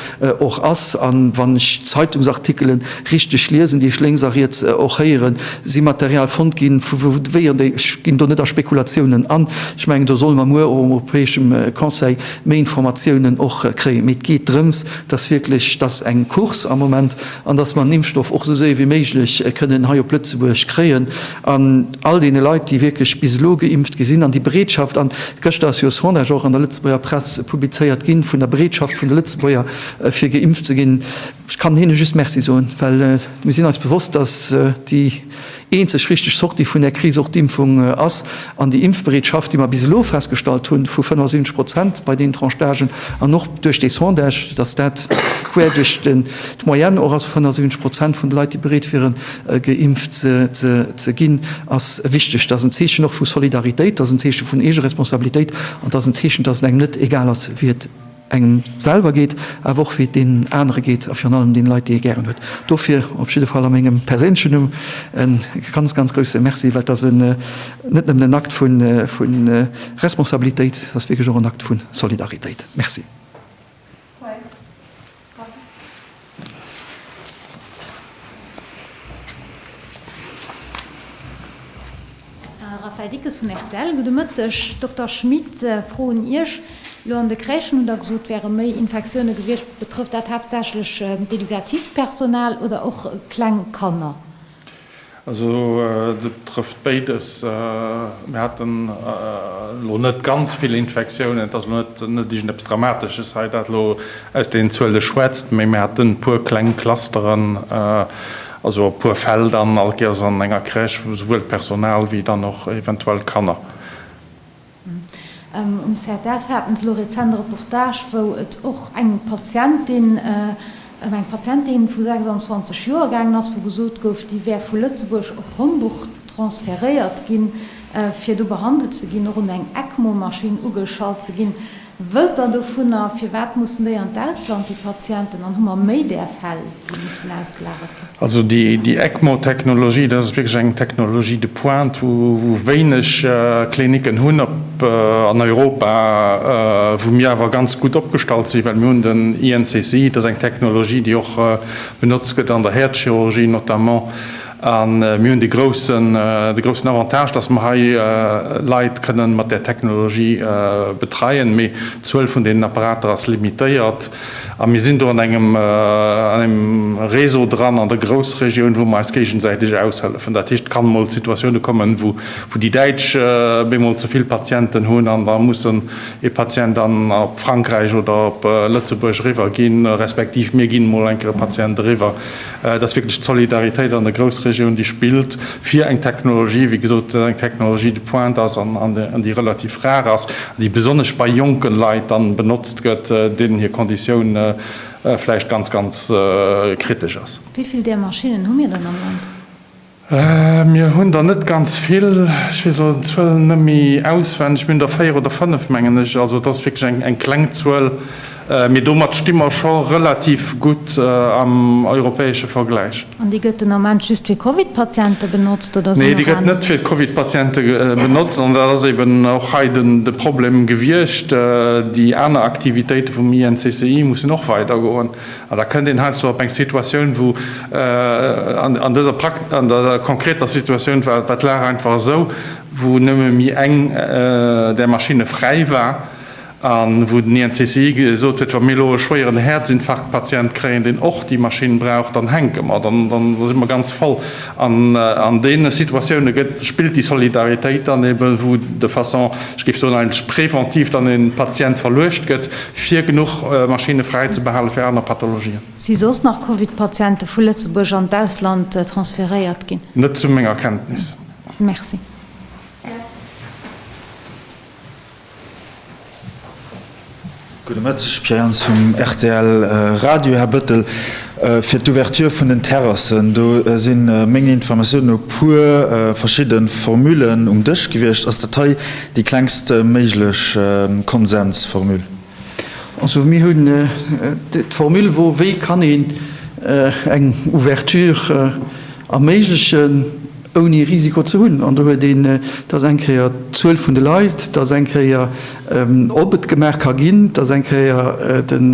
och ass. A wann ech d'Zeitungsartikele richteg liesen, déi ech lénks a riets och héieren, si Material fonnt gi vu wéier déi, ech ginn do net a Spekulatiounen an, ech mengen do solle mer muer och um europäeschem Conseil méi Informatiounen och kréien. Mee et geet drëms, dass wierklech dass eng Course am Moment an dass mer den Impfstoff och esou séier wéi méiglech kënnen hei op Lëtzebuerg kréien an all deene Leit, déi wierklech bis elo geimpft gi sinn an déi Bereetschaft an gëschter ass jo e Sondage och an der Lëtzebuerger Press publizéiert ginn, vun der Bereetschaft vun de Lëtzebuerger fir geimpft ze ginn. Ech kann hinne just Merci soen, well mir sinn eis bewosst, dass déi. Déi eenzeg richteg Sortie vun där Kris och d'Impfung ass. An déi Impfbereetschaft, déi mer bis elo festgestallt hunn, vu 75 Prozent bei deenen Tranche d'âgen, an och duerch dee Sondage, dass dat quer duerch d'Moyenne och ass, 75 Prozent vun de Leit, déi bereet wieren, geimpft ze ginn, ass wichteg. Dat ass en Zeechen och vu Solidaritéit, dat ass en Zeeche vun Eegeresponsabilitéit an dat ass en Zeechen, dass et engem net egal ass, wéi et. engem selwer geet, awer och wéi et deenen anere geet a virun allem deene Leit, déi ee gären huet. Dofir op jidde Fall a mengem perséinlechen Numm e ganz, ganz grousse Merci, well et ass net nëmmen en Akt vu Responsabilitéit, et ass wierklech och en Akt vu Solidaritéit. Merci. Raphaël Dickes vun rtl, Gudde Mëtteg. Dokter Schmit, froen Iech, Elo an de Crèchen hunn Der gesot, et wäre méi Infektioune gewiescht. Betrëfft dat haaptsächlech d'edukativt Personal oder och kleng Kanner? Also dat trëfft béides. Mir haten elo net ganz vill Infektiounen. Et ass elo net iergendepes Dramatesches hei, dat elo aus deenen Zuele schwätzt, mä mir haten e puer kleng Clusteren, also e puer Fäll dann allkéiers an enger Crèche, souwuel d'Personal wéi dann och eventuell d'Kanner. Um ZDF haten se elo rezent e Reportage, wou et och eng Patientin, ëm eng Patientin vu 26 Joer gaangen ass, wou gesot gouf, déi wär vu Lëtzebuerg op Homburg transferéiert ginn, fir do behandelt ze ginn, och un eng ECMO-Maschinn ugeschalt ze ginn. Wësst Der dovunner, firwat mussen déi an d'Ausland, déi Patienten, an hu mer méi där Fäll, déi mussen ausgelagert ginn? Also déi ECMO-Technologie, dat ass wierklech eng Technologie de pointe, wou wéineg Klinicken hunn an Europa, wou mir awer ganz gutt opgestallt sinn, well mir hunn den INCCI, dat ass eng Technologie, déi och benotzt gëtt an der Häerzchirurgie notamment. A mir hunn de groussen Avantage, dass mer hei Leit kënnen mat där Technologie betreien, mee d'Zuel vun deenen Apparater ass limitéiert. A mir sinn do an engem Réseau dran an der Groussregioun, wou mer eis géigesäiteg aushëllefen. Dat heescht, et kann emol Situatioune kommen, wou déi Däitsch bemol ze vill Patienten hunn an da mussen ee Patient dann op Frankräich oder op Lëtzebuerg eriwwer ginn, respektiv mir ginn emol eng Kéier e Patient eriwwer. Et ass wierklech d'Solidaritéit an der Groussregioun, déi spillt fir eng Technologie, wéi gesot, eng Technologie de pointe ass an déi relativ rar ass, déi besonnesch bei jonke Leit dann benotzt gëtt, deenen hir Konditioun vläicht ganz, ganz kritesch ass. Wéi vill där Maschinnen hu mir dann am Land? Mir hunn der net ganz vill, ech weess elo d'Zuel net méi auswenneg, mir hunn der véier oder fënnef, mengen ech. Also et ass wierklech eng kleng Zuel, mee domat sti mer scho relativ gutt am europäesche Vergläich. An déi gëtt den Ament just fir Covid-Patiente benotzt, oder sinn och aner? Nee, déi gëtt net fir d'Covid-Patiente benotzt an dat ass eben och hei de Problem gewiescht. Déi aner Aktivitéite vum INCCI mussen och weidergoen. An da kënnt een heiansdo op eng Situatioun, wou an dëser konkreter Situatioun war d'Lag einfach esou, wou nëmme méi eng där Maschinne fräi war an wou den INCCI gesot huet, wa mir elo e schwéieren Häerzinfarktpatient kréien, deen och déi Maschinn brauch, dann hänke mer, dann si mer ganz voll. An an deene Situatioune gëtt, spillt déi Solidaritéit dann eben, wou de façon, ech géif soen, eigentlech präventiv dann e Patient verluecht gëtt, Fir genuch Maschinne fräi ze behale fir aner Pathologien. Si soss nach Covid-Patiente vu Lëtzebuerg an d'Ausland transferéiert ginn? Net zu menger Kenntnis. Merci. Gudde Mëtteg, Pierre Jans vum rtl Radio. Här Bëttel, fir d'Ouverture vun den Terrassen, do si menger Informatiounen no puer verschidde Formullen um Dësch gewiescht. Ass dat hei Déi klengst méiglech Konsensformule. Also mir hunn d'Formule wou wéi kann een eng Ouverture erméiglechen ouni Risiko ze hunn. An do huet een, dat ass eng Kéier d'Zuel vun de Leit, dat ass eng Kéier ob et gemaach ka ginn, dat ass eng Kéier den,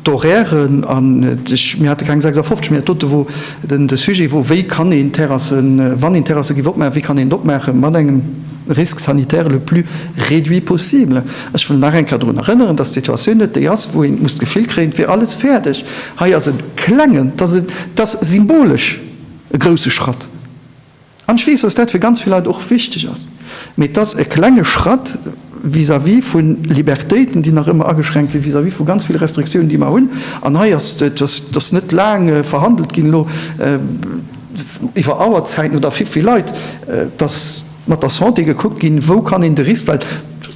D'Horairen an ech, mir hate keng 56, mee dat dote wor den, de Sujet wor, wéi kann een d'Terrassen, wann een Terrasse giff opmaachen, wéi kann een et opmaachen mat engem Risque sanitaire le plus réduit possible. Ech wëll nach eng Kéier drun erënneren, dass d'Situatioun net déi ass, wou een muss d'Gefill kréien, et wier alles fäerdeg. Hei ass e klengen, dat ass e symbolesch e grouse Schratt. An ech weess, dass dat fir ganz vill Leit och wichteg ass, mee et ass e klenge Schratt vis-à-vis vu Libertéiten, déi nach ëmmer ageschränkt sinn, vis-à-vis vu ganz vill Restriktiounen, déi mer hunn. An hei ass et, et ass net laang verhandelt ginn elo iwwer Auerzäiten oder fir vill Leit, dass mat der Santé gekuckt ginn, wou kann een de Risk, well,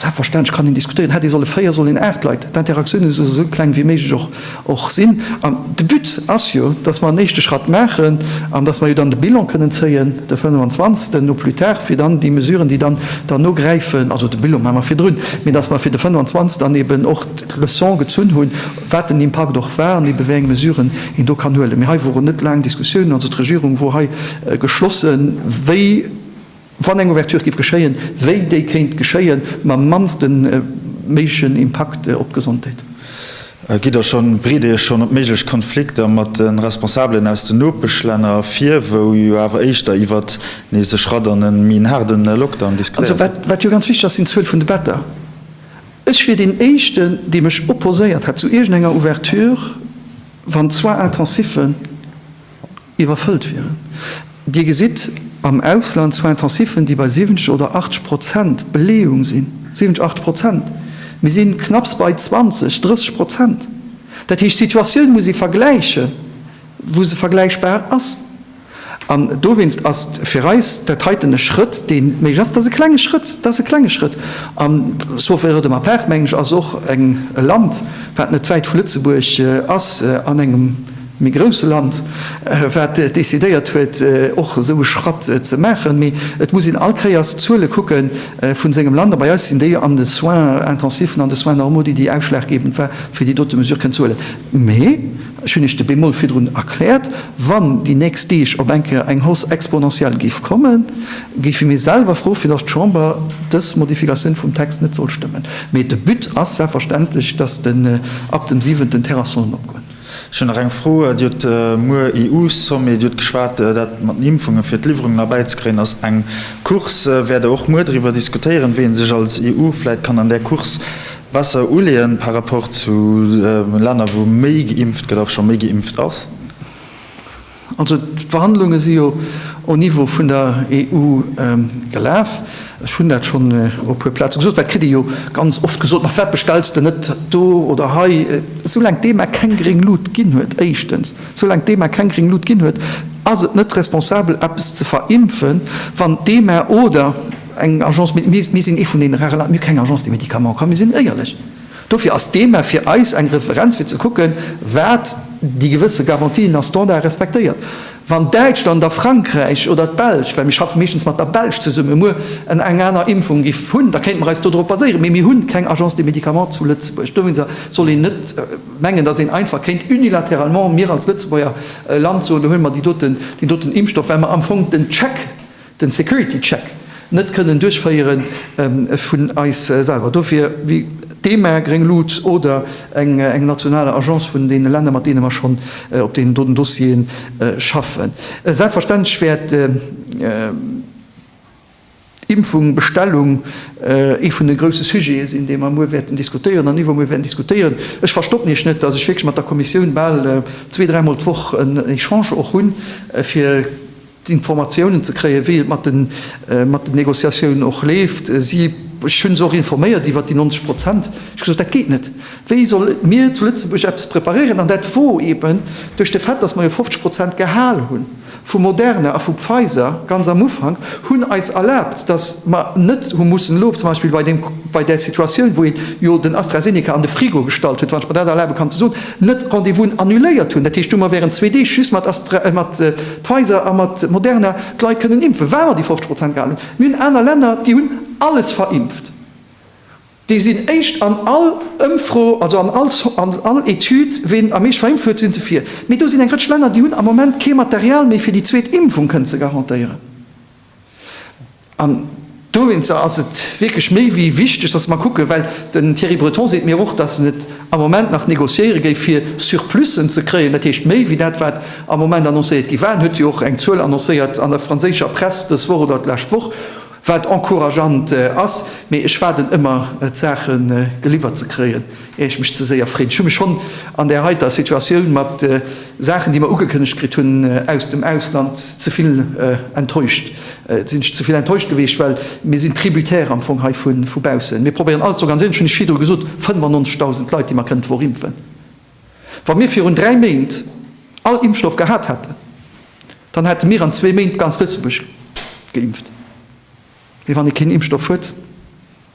Selbstverständlech kann een diskutéieren, hätt ee solle véier, soll een aacht Leit, d'Interaktioune solle sou kleng wéi méiglech och sinn. An de But ass jo, datt mer en éischte Schratt maachen an datt mer jo dann de Bilan kënnen zéien de 25 au plus tard, fir dann déi Mesuren, déi dann derno gräifen, also de Bilan maache mer virdrun, mee datt mer fir de 25 dann eben och d'Leçon gezunn hunn, wat den Impakt och war an ebe wéi eng Mesuren een do kann huelen. Mee hei woren net laang Diskussiounen, also d'Regierung wor hei geschlossen, wéi. Wann eng Ouverture giff geschéien, wéi déi kéint geschéien mam mannste méiglechen Impakt op d'Gesondheet. Gitt der schonn, bereet der iech schonn op méiglech Konflikter mat de Responsabelen aus de Nopeschlänner vir, wou jo awer éischter iwwert nees e Schratt an e méi en haarde Lockdown diskutéiert gëtt? Also, wat jo ganz wichteg ass, sinn d'Zuel vun de Better. Ech wier deen éischten, dee mech opposéiert hätt zu iergendenger Ouverture, wann d'Soins intensiven, Iwwerfëllt wieren. Dir gesitt am Ausland zwar Intensiven, déi bei 70 oder 80 Prozent Beleeung sinn, 70, 80 Prozent. Mir si knapps bei 20, 30 Prozent. Dat heescht, d'Situatioun muss ee vergläiche wou se vergläichbar ass. An dowéinst ass fir eis dat heiten e Schrëtt, dee méiglech ass. Dat ass e klenge Schrëtt, dat ass e klenge Schrëtt. An sauf erreur de ma part, mengen ech, ass och e Land, wat net wäit vu Lëtzebuerg ass, an engem, méi grousse Land, wat decidéiert huet, och esou e Schratt ze maachen. Mee et muss een all Kéiers d'Zuele kucke vu sengem Land. A bei eis sinn déi an de Soins intensiven, an de Soins normaux, déi déi ausschlaggebend war, fir déi dote Mesure kënnen ze huelen. Mee ech hunn Iech de Bémol virdrun erkläert, Wann déi nächst Deeg op eng Kéier eng Hausse exponentielle géif kommen, géife mir selwer froe fir datt d'Chamber dës Modifikatioun vum Text net soll stëmmen. Mee de But ass selbstverständlech, datt den ab dem siwenten Terrassonen opgoen. Ech hunn nach eng Fro. Dir hutt muer EU-Sommet, Dir hutt geschwat, dat mat den Impfungen, fir d'Liwwerungen erbäizekréien, ass eng Course. Wäert Der och muer driwwer diskutéieren, wéi ee sech als EU vläicht kann an där Course besser uleeën par rapport zu Länner, wou méi geimpft gëtt a scho méi geimpft ass? Also d'Verhandlunge si jo au Niveau vun der EU gelaf. Ech hunn dat schonn op e puer Plaze gesot, well et kritt ee jo ganz oft gesot, ma firwat bestells de net do oder hei? Soulaang d'EMA keng gréng Lut ginn huet, éischtens, soulaang d'EMA keng gréng Lut ginn huet, ass et net responsabel, eppes ze verimpfen, wann d'EMA oder eng Agence, mir sinn ee vun deene rare Länner, mir hu keng Agence de médicaments, komm, mir sinn éierlech! Dofir ass d'EMA fir eis eng Referenz fir ze kucken, wat déi gewësse Garantien a Standarde respektéiert. Wann Däitschland a Frankräich oder d'Belsch, well mir schaffe meeschtens mat der Belsch zesummen, muer en eng aner Impfung giff hunn, da kéinte mer eis dodrop baséieren. Mee mir hu keng Agence des Médicaments zu Lëtzebuerg. Dowéinster soll een net mengen, datt een einfach kéint unilatéralement, mir als Lëtzebuerger Land, soen, do huele mer déi doten, deen doten Impfstoff, well mer am Fong den Check den Security Check net kënnen duerchféieren vun eis selwer, dofir wéi d'EMA, Gréng Luut oder eng national Agence vun deene Länner, mat deene mer schonn op deenen doten Dossiere schaffen. Selbstverständlech wäert d'Impfung, Bestellung ee vun de grouse Sujete sinn, dee mer muer wäerten diskutéieren an iwwer muer wäerten diskutéieren. Ech verstoppen Iech net, datt ech wierklech mat der Kommissioun bal zwee, dräimol d'Woch en Echange och hunn, fir, Informatiounen ze kréien, wéi et mat den Négociatiounen och leeft. Ech hunn se och informéiert iwwert déi 90 Prozent. Ech hu gesot, dat geet net. Wéi solle mir zu Lëtzebuerg eppes preparéieren? An dat wor eeben duerch de Fait, datt mer jo 50 Prozent gehal hu vu Moderna a vu Pfizer ganz am Ufank, hunn eis erlaabt, datt mer net hu mussen elo zum Beispill bei där Situatioun, wou ee jo den AstraZeneca an de Frigo gestallt huet, wann ech mer dat erlabe kann ze soen, net Rendez-vousen annuléiert hunn. Dat heescht, du hu mer wärend zwee Deeg just mat. Pfizer a mat Moderna d'Leit kënnen impfen, well mer déi 50 Prozent gehalen hunn. Mir hunn aner Länner, déi hunn alles verimpft. Déi sinn éischt an all Ëmfro, also an all an all Etüd, ween am meescht verimpft huet, si se vir. Mee do sinn eng Rëtsch Länner, déi hunn am Moment kee Material méi, fir déi zweet Impfung kënnen ze garantéieren. An dowéinster ass et wierklech méi wéi wichteg, dass mer kucken, well den Thierry Breton seet mir och, dass en et am Moment nach négociéiere géif, fir Surplussen ze kréien, dat heescht méi wéi dat, wat am Moment annoncéiert gi war. En huet jo och eng Zuel annoncéiert an der franséischer Press dës Woch oder d'lescht Woch, wat encourageant ass, mee ech waarden ëmmer, d'Saache geliwwert ze kréien. Ier ech mech ze séier freen. Ech hu mech schonn an där heiter Situatioun mat Saachen, déi mer ugekënnegt kritt hunn aus dem Ausland, ze vill enttäuscht. Et sinn ech ze vill enttäuscht gewiescht, well mir sinn tributaire am Fong hei vu baussen. Mir probéieren alles ze organiséieren. Ech hunn lech virdru gesot, 95.000 Leit, déi mer kënnen d'Wochimpfen. Wa mir virun dräi Méint all Impfstoff gehat hätten, dann hätte mir an zwee Méint ganz Lëtzebuerg geimpft. Mee wann ee keen Impfstoff huet.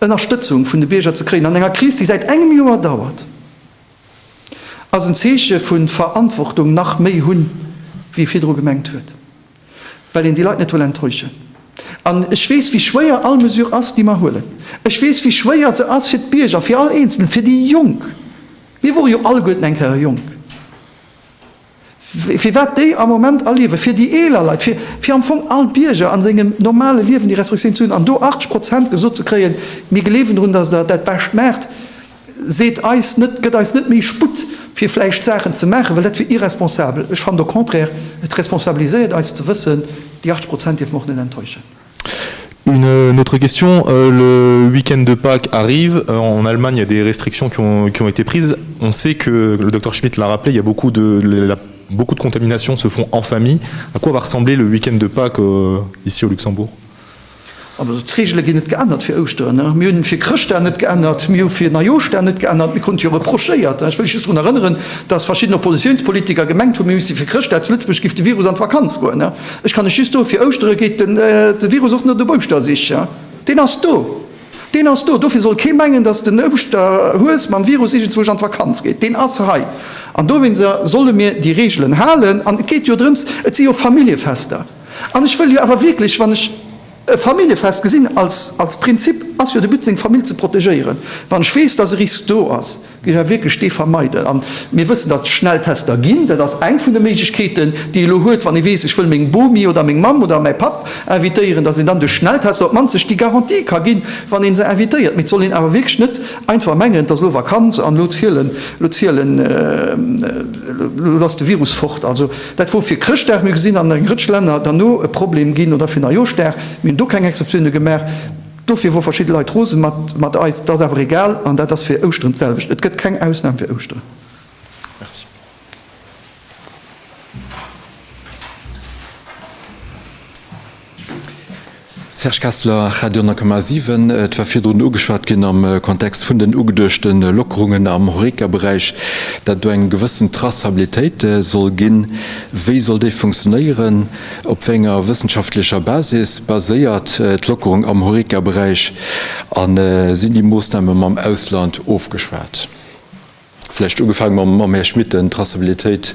Ënnerstëtzung vun de Bierger ze kréien an enger Kris, déi säit engem Joer dauert, ass en Zeeche vu Verantwortung, nach méi hunn, wéi ee virdru gemengt huet, well een déi Leit net wëll enttäuschen. An ech weess, wéi schwéier all Mesure ass, déi mer huelen. Ech weess, wéi schwéier se ass fir d'Bierger, fir all Eenzelen, fir déi Jonk. Mir wore jo alleguerten eng Kéier jonk. Firwat déi am Moment erliewen, fir déi eeler Leit, fir, fir am Fong all Bierger a sengem normale Liewen déi Restriktioun ze hunn an do 80 Prozent gesot ze kréien, mir gleewen drun, datt Der dat Bescht maacht, seet eis net, gëtt eis net méi Sputt, fir vläicht Saachen ze maachen, well dat wier irresponsabel. Ech fannen au contraire, et responsabiliséiert eis ze wëssen, déi 80 Prozent dierfen och net enttäuschen. Une autre question, le week-end de Pâques arrive, en Allemagne il y a des restrictions qui ont été prises, on sait que, le Docteur Schmit l'a rappelé, il y a beaucoup de la beaucoup de contaminations se font en famille, à quoi va ressembler le week-end de Pâques ici au Luxembourg? Also d'Regele ginn net geännert fir Ouschteren. Mir hunn fir Chrëschtdag net geännert, mir hu fir Neijooschdag net geännert. Mir krute jo reprochéiert, ech wëll just drun erënneren, datt verschidden Oppositiounspolitiker gemengt hunn, mir misste fir Chrëschtdag zu Lëtzebuerg, géif de Virus an d'Vakanz goen. Ech kann lech just soen, fir Ouschtere geet de Virus och net op Ouschter sich. Deen ass do, deen ass do. Dofir soll kee mengen, datt den Ouschterhues mam Virus iergendzwousch an d'Vakanz geet. Deen ass hei. An dowéinster solle mir déi Reegelen halen. An et geet jo drëms, et si jo Familljefester. An ech wëll jo awer wierklech, wann ech e Familljefest gesinn, als Prinzip ass jo de But, seng Famill ze protegéieren, wann ech weess, datt e Risk do ass. Géif awer wierklech dee vermeiden. A mir wëssen, datt et Schnelltester ginn. Dat ass eng vun de Méiglechkeeten, déi ee elo huet, wann ee weess, ech wëll meng Bomi oder meng Mamm oder mäi Papp invitéieren, datt een dann duerch Schnelltester op d'mannst sech déi Garantie ka ginn, wann ee se invitéiert. Mee et soll een awer wierklech net einfach mengen, et ass elo Vakanz an elo zielen, elo zielen, elo ass de Virus fort. Also, dat wor fir Chrëschtdag, mir hu gesinn, an eng Rëtsch Länner, dann no e Problem ginn, oder fir Neijooschdag, mir hunn do keng Exceptione gemaach. Dofir wor verschidde Leit rosen mat eis. T'ass awer egal an dat ass fir Ouschteren d'selwecht. Et gëtt keng Ausnahm fir Ouschteren. Merci. Serge Kessler, Radio 10,7, Et war virdrun ugeschwat ginn am Kontext vun den ugeduechte Lockerungen am Horeca-Beräich, dat do eng gewëssen Traçabilitéit soll ginn. Wéi soll déi funktionéieren? Op wéi enger wëssenschaftlecher Basis baséiert d'Lockerung am Horeca-Beräich a sinn déi Moossname mam Ausland ofgeschwat? Vläicht ugefaange mam Här Schmit, deen d'Traçabilitéit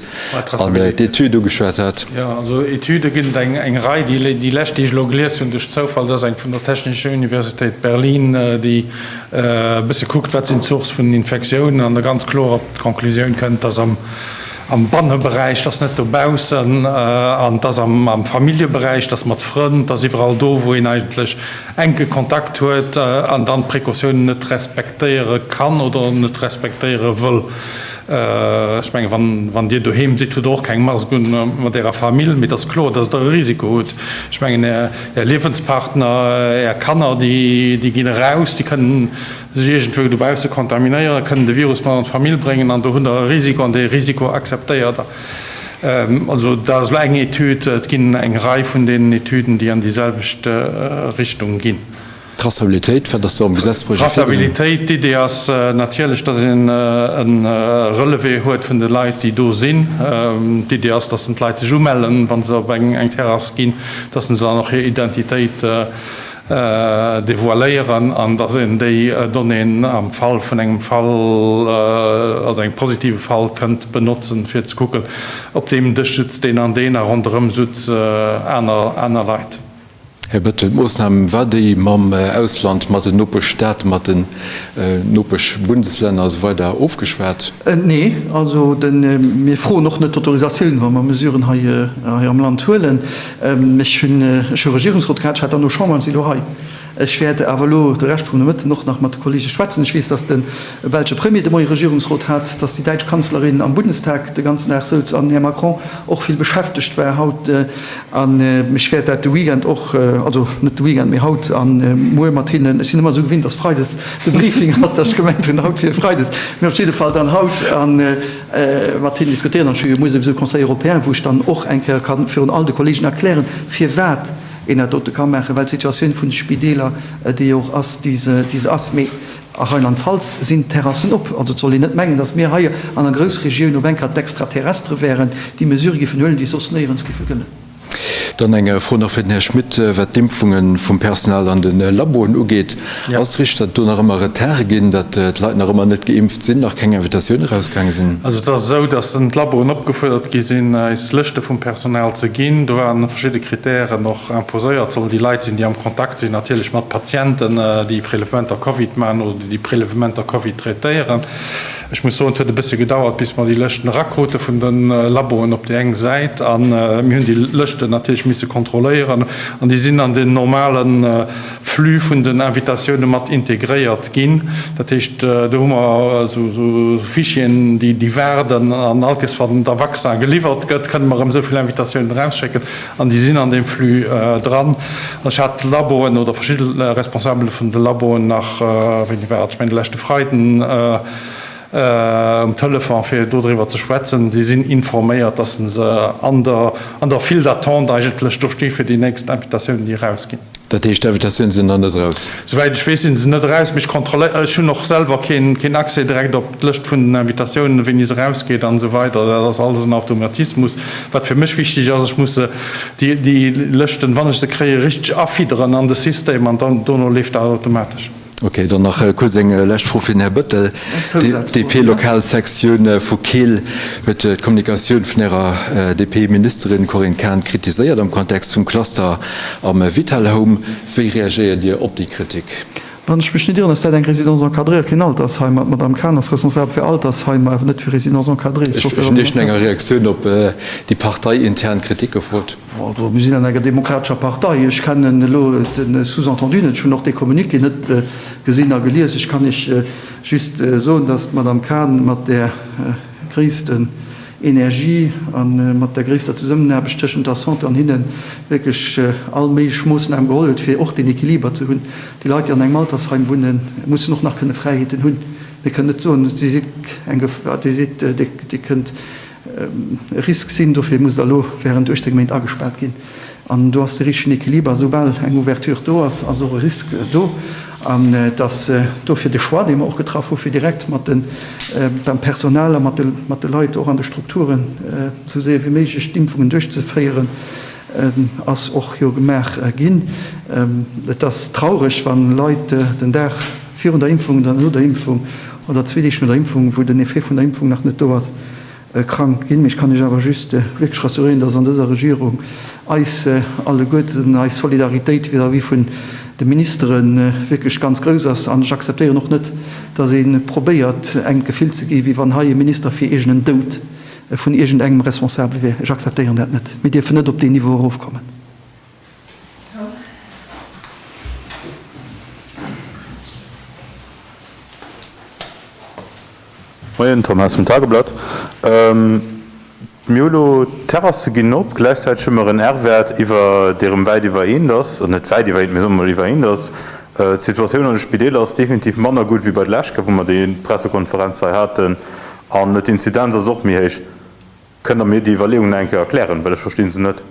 an d'Etüd ugeschwat hat. Jo, also Etüde ginn et eng Rei. Déi lescht, déi ech elo gelies hunn duerch Zoufall, dat ass eng vun der Technischer Universitéit Berlin, déi e bësse kuckt, wat sinn d'Sourcë vun den Infektiounen an da ganz kloer op d'Conclusioun kënnt, dass am am Banneberäich, dass net dobaussen, an dass am Familljeberäich, dass mat Frënn, dass iwwerall do, wou een eigentlech enke Kontakt huet an dann d'Précautiounen net respektéiere kann oder net respektéiere wëll. Ech menge wann Dir doheem sidd, hutt Der och keng Mask un mat Ärer Famill, mee et ass kloer, dass Der e Risiko hutt. Ech mengen Är Liewenspartner, Är Kanner, déi ginn eraus, déi kënnen, sech iergendwou dobausse kontaminéieren, kënnen de Virus mat an d'Famill bréngen an do hunn Der e Risiko an dee Risiko akzeptéiert Der. Also dat ass elo eng Etüd, et ginn eng Rei vun deenen Etüden, déi an déi selwecht Richtung ginn. Traçabilitéit, wat ass do am Gesetzprojet virgesinn? D'Traçabilitéit, d'Idee ass natierlech, datt een e Relevé huet vun de Leit, déi do sinn. D'Idee ass, datt d'Leit sech umellen, wa se op eng Terrass ginn, datt se dann och hir Identitéit devoiléieren an dass een déi Donnéeën am Fall vun engem Fall, also engem positive Fall, kënnt benotzen, fir ze kucken, Op deem Dësch sutzt deen an deen a ronderëm sutze aner Leit. Här Bettel, d'Moossnam war déi, mam Ausland, mat den Nopeschstaate, mat den Nopeschbundeslänner a sou weider ofgeschwat? Nee. Also, mir froen och net d'Autorisatioun, wa mer Mesuren hei am Land huelen. Ech hunn ech hu Regierungsrot gehat, ech war dann no Chamber an si elo hei. Ech wäert awer elo de Rescht vum Nomëtten och nach mat de Kollege schwätzen. Ech weess, datt de belsche Premier de Moie Regierungsrot hat, datt déi däitsch Kanzlerin am Bundestag de ganzen Dag souz an Här Macron och vill beschäftegt war haut. An ech wäert dat de Weekend och, also net de Weekend, mee haut a muer mat hinnen, ech sinn ëmmer esou gewinnt, datt freides de Briefing ass, datt ech gemengt hunn, haut wier freides, mee op jidde Fall dann haut. Mat hinnen diskutéieren an schwéiere mueres esou Conseil européen, wou ech dann och eng Kéier ka virun all de Kolleegen erklären, firwat een dat dote ka maachen, well d'Situatioun vun de Spideeler déi jo och ass, déi se ass. Mee a Rheinland-Pfalz sinn d'Terrassen op. Also et soll een net mengen, datt mir hei an der Groussregioun op eng Kéier d'Extraterrestre wäeren, déi Mesure géifen huelen, déi soss néierens géife gëllen. Dann eng Fro nach fir den Här Schmit, wat d'Impfunge vum Personal an de Laboen ugeet. Ass et richteg, datt do nach ëmmer Retarde ginn, datt d'Leit nach ëmmer net geimpft sinn, nach keng Invitatioun erausgaange sinn? Also et ass esou, datt d'Laboen opgefuerdert gi sinn, eis Lëschte vum Personal ze ginn. Do waren verschidde Krittären och imposéiert. Et sollen déi Leit sinn, déi am Kontakt sinn natierlech mat Patienten, déi Prelevementer Covid maachen oder déi Prelevementer Covid traitéieren. Ech muss soen, et huet e bëssche gedauert, bis mer déi Lëschten erakrute vun de Laboen op déi eng Säit. A mir hunn déi Lëschten natierlech misse kontrolléieren. An déi sinn an den normale Flux vun den Invitatioune mat integréiert ginn. Dat heescht, do hu mer esou Fichieren, déi waarden. An allkes, wann da Vaccin geliwwert gëtt, kënne mer erëm esou vill Invitatiounen erausschécken. An déi sinn an deem Flux dran. Ech hat d'Laboen oder verschidde Responsabele vun de Laboen nach, wéini war et, ech mengen de leschte Freiden, um Telefon, fir dodriwwer ze schwätzen. Déi sinn informéiert, dass se se an der, an der File d'attente eigentlech do sti fir déi nächst Invitatioune, déi erausginn. Dat heescht, d'Invitatioune sinn nach net eraus? Souwäit ech weess, sinn se net eraus, mee ech kontrolléieren dat. Ech hunn och selwer keen Accès direkt op d'Lëscht vun den Invitatiounen, wéini se erausgeet an esou weider. Dat ass alles en Automatismus. Wat fir mech wichteg ass, ech muss déi Lëschten, wann ech se kréien, richteg afidderen an de System an dann dono leeft dat automatesch. Okay, dann nach kuerz eng lescht Fro fir den Här Bëttel. D'DP-Lokalsektioun vu Keel huet d'Kommunikatioun vun Ärer DP-Ministerin Corinne Cahen kritiséiert am Kontext vum Cluster am Vitalhome. Wéi reagéiert Dir op déi Kritik? Wann ech mech net irren, ass dat eng Résidence encadrée a keen Altersheim, an d'Madamm Kahn ass responsabel fir Altersheimer, awer net fir Résidence encadrée. Ech hunn nach keng Reaktioun op déi parteiintern Kritik gefrot. Mir sinn an enger demokratescher Partei. Ech kennen elo den Sous-entendu net. Ech hunn och dee Communiqué net gesinn a gelies. Ech kann Iech just soen, dass d'Madamm Kahn mat där. gréissten Energie a mat der gréisster Zesummenaarbecht tëschent der Santé an hinnen, wierklech all méiglech Moossname geholl huet, fir och deen Equiliber ze hunn. Déi Leit, déi an engem Altersheim wunnen, mussen och nach kënne Fräiheeten hunn. Mir kënnen net soen, Dir sidd eng Gefor, Dir sidd, Dir kënnt e Risk sinn, dofir musst Der elo wärend 18 Méint agespaart ginn. An do ass de richtegen Equiliber, esoubal eng Ouverture do ass, ass och e Risque do. An et ass dofir de Choix, dee mer och getraff hu fir direkt mat de, mam Personal a mat de Leit och an de Strukturen esou séier wéi méiglech d'Impfungen duerchzeféieren, ass och jo gemaach ginn. Et ass traureg, wa Leit den Dag virun der Impfung oder no der Impfung oder zwee Deeg no der Impfung, wou den Effet vun der Impfung nach net do ass, Krank ginn. Mee ech kann Iech awer just wierklech rassuréieren, dass an dëser Regierung eis alleguerten, eis Solidaritéit vis-à-vis vun de Ministere wierklech ganz grouss ass. An ech akzeptéieren och net, dass ee probéiert engem d'Gefill ze gi wéi wann hei ee Minister fir iergendeen Doud vun iergendengem responsabel wier. Ech akzeptéieren dat net. Mir dierfen net op deen Niveau erofkommen. Moien, Tom Haas vum Tageblatt. Mir hu lo, d'Terrasse ginn op, gläichzäiteg hu mer en R-Wäert iwwer, dee rëm wäit iwwer 1 ass, also net wäit iwwer 1, mee soe mer mol iwwer 1 ass. D'Situatioun an de Spideeler ass definitiv manner gutt wéi bei der leschter, wou mer déi Pressekonferenz hei haten, an d'Inzidenz ass och méi héich. Kënnt Der mir déi Iwwerleeung nach eng Kéier erklären, well ech verstinn se net.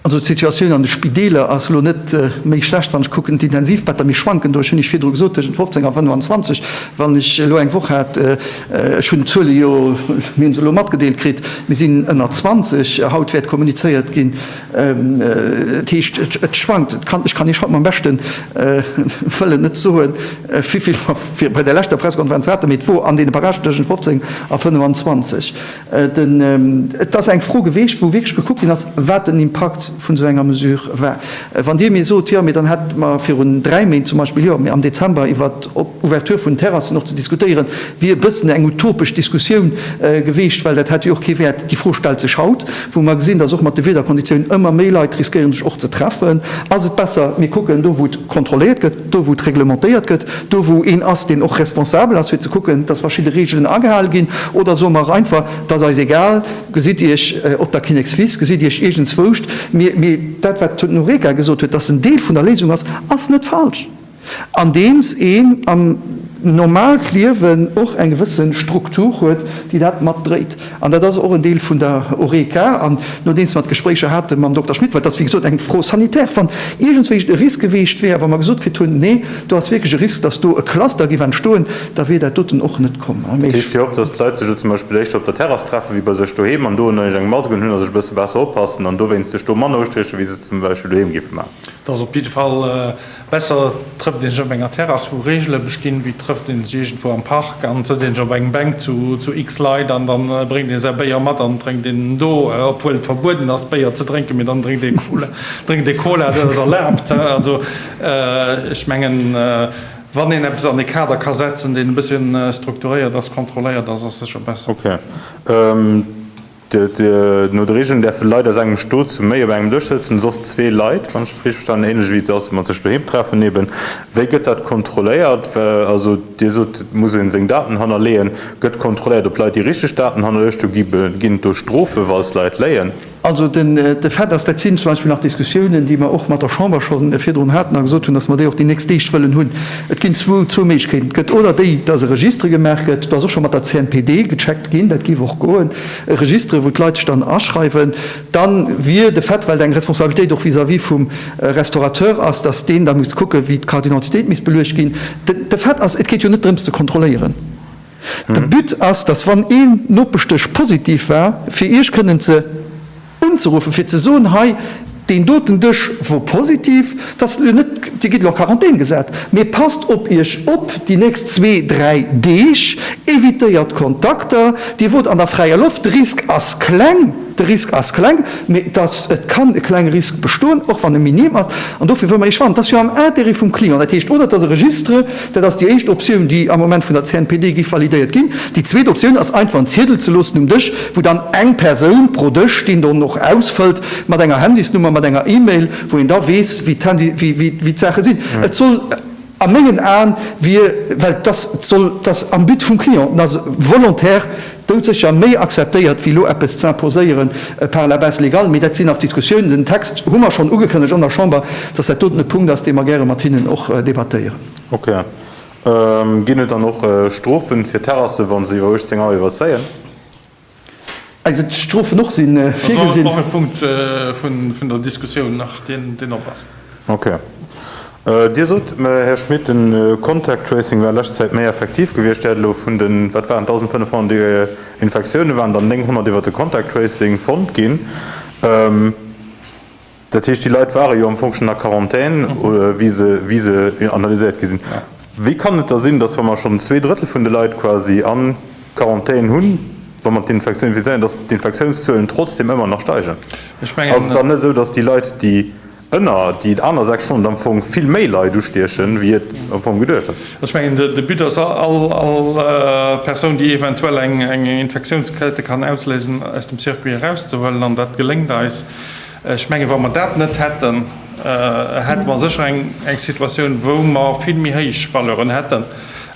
Also d'Situatioun an de Spideeler ass elo net méi schlecht. Wann ech kucken, d'Intensivbetter, mir schwanken do, ech hunn Iech virdru gesot, tëschent 15 a 25, wann ech elo eng Woch hat, ech hunn d'Zuele jo, mir hu se elo matgedeelt kritt, mir sinn ënner 20, haut wäert kommunizéiert ginn, dat heescht et schwankt. Ech kann Iech haut mam beschte Wëllen net soen, wéi vill mer bei der leschter Pressekonferenz haten, mee et wor an deene Barrage tëschent 15 a 25. Et ass eng Fro geweecht, wou wierklech gekuckt ginn ass, wat den Impakt vun esou enger Mesure war. Wann Dir mir sot, jo, mee dann hätte mer virun dräi Méint zum Beispill, jo, mee am Dezember iwwer d'Ouverture vun Terrassen och ze diskutéieren, wier e bëssen eng utopesch Diskussioun geweecht, well dat hätt jo och kee Wäert. Déi Fro stellt sech haut, wou mer gesinn, dass och mat de Wiederkonditiounen ëmmer méi Leit riskéieren, sech och ze treffen. Ass et besser, mir kucken do, wou et kontrolléiert gëtt? Do wou et reglementéiert gëtt, do wou een ass deen och responsabel ass fir ze kucken, datt verschidde Reegelen agehal ginn, oder soe mer einfach, et ass eis egal, gesitt iech op der Kinnekswiss, gesitt iech iergendzwouscht. Mee dat wat d'Mme Noreika gesot huet, datt se en Deel vun der Léisung ass, ass net falsch, andeems een am normale Liewen och eng gewësse Struktur huet déi dat mat dréit. An dat ass och en Deel vun der Horeca. An nodeems mer d'Gespréicher hate mam Dokter Schmit, well et ass wéi gesot eng Fro sanitaire, wann iergendswéi e Risk geweecht wär a wa mer gesot kritt hunn, nee, do ass wierklech e Risk, dass do e Cluster géif entstoen, da wier dat doten och net komm. Dat heescht, Dir hofft, dass d'Leit sech elo zum Beispill éischter op der Terrass treffe wéi bei sech doheem an do ënnerlech eng Mask unhunn a sech e bësse besser oppassen an dowéinst sech do manner ustieche wéi se et zum Beispill doheem géife maachen? Dat ass op jidde Fall. Besser trëfft een sech op enger Terrass wou Reegele bestinn, wéi trëfft een sech iergendwou am Park an sëtzt een sech op eng Bänk zu x Leit an dann bréngt een säi Béier mat an drénkt een do, obwuel et verbueden ass Béier ze drénken, mee dann drénkt ee Cola, dat ass erlaabt. Also ech mengen wann een eppes an e Kader ka setzen deen e bësschen strukturéiert ass, kontrolléiert ass, ass sécher besser. Ok. No de Regeln däerfe Leit aus engem Stot zu méi op engem Dësch sëtzen, soss zwee Leit, wann ech dat richteg verstanen, ähnlech wéi et ass, wa mat sech doheem treffen. Eben, wéi gëtt dat kontrolléiert? Also Dir sot, et muss ee seng Daten hannerleeën. Gëtt kontrolléiert, ob d'Leit déi richteg Daten hannerluecht hunn? Ginn et do Strofen, wa Leit léien? Also de Fait ass, dat sinn zum Beispill nach Diskussiounen, déi mer och mat der Chamber scho virdrun haten a gesot hunn, datt mer déi och déi nächst Deeg wëllen hunn, Et ginn zwou zwou Méiglechkeeten. Et gëtt oder déi, dass e Registre gemaach gëtt, dass och scho mat der CNPD gecheckt ginn, dat géif och goen, e Registre wou d'Leit sech dann aschreiwen. Da wier de Fait, well et eng Responsabilitéit och vis-à-vis vum Restaurateur ass, dass deen da muss kucken, wéi d'Carte d'identitéit misst beluecht ginn, de Fait ass, et geet jo net drëms ze kontrolléieren. De But ass, dass wann ee Nopeschdësch positiv war, fir Iech kënnen ze unzeruffen, fir ze soen, hei deen doten Dësch wor positiv, dass elo net, Dir gitt elo a Quarantän gesat, mee passt op Iech op déi nächst zwee, dräi Deeg, evitéiert d'Kontakter, Dir wot an der fräier Loft, de Risk ass kleng, de Risk ass kleng, mee dass et kann e klenge Risk bestoen, och wann e minim ass, an dofir wëll mer Iech warnen. Dat ass jo am Intérêt vum Client, dat heescht, oder et ass e Registre, Dat ass déi éischt Optioun, déi am Moment vun der CNPD giff validéiert ginn. Déi zweet Optioun ass einfach en Ziedel ze loossen um Dësch, wou dann eng Persoun pro Dësch deen dann och ausfëllt, mat enger Handysnummer, mat enger E-Mail, wou een da weess, wéi d'Saache sinn. Et soll a mengen Aen, well et ass am But vum Client, et ass volontaire, Doudsécher méi akzeptéiert wéi lo eppes z'imposéieren par la base légale. Mee dat sinn nach Diskussiounen. Den Text hu mer schonn ugekënnegt an der Chamber, dass dat doten e Punkt ass, dee mer gäre mat hinnen och debattéieren. Ok. Ginn et dann och Strofen fir Terrassen, wann se iwwer 18 Auer iwwerzéien? Et ginn Strofen och si virgesinn. Also ass et och e Punkt vun der Diskussioun nach, deen op ass. Ok. Dir sot, Här Schmit, de Contact Tracing war lescht Zäit méi effektiv gewiescht. Dir hätt elo vun den, wat waren et, 1.500 Infektioune waren der 900 iwwer de Contact Tracing fonnt ginn. Dat heescht, déi Leit ware jo am Fong schonn a Quarantän, wéi se analyséiert gi sinn. Wéi kann et da sinn, datt, wa mer schonn zwee Drëttel vun de Leit quasi a Quarantän hunn, wa mer d'Infektioun infizéieren, datt d'Infektiounszuelen trotzdeem ëmmer nach steigen? Ass et dann net esou, datt déi Leit, déi. Hënner, déi et aner 600 am Fong vill méi Leit ustiechen, wéi et am Fong geduecht ass. Also ech mengen, de But ass, all Persoun, déi eventuell eng Infektiounskette kann ausléisen, aus dem Circuit erauszehuelen. An dat geléngt eis. Ech mengen, wa mer dat net hätten, hätte mer sécher eng Situatioun, wou mer vill méi héich Valeuren hätten,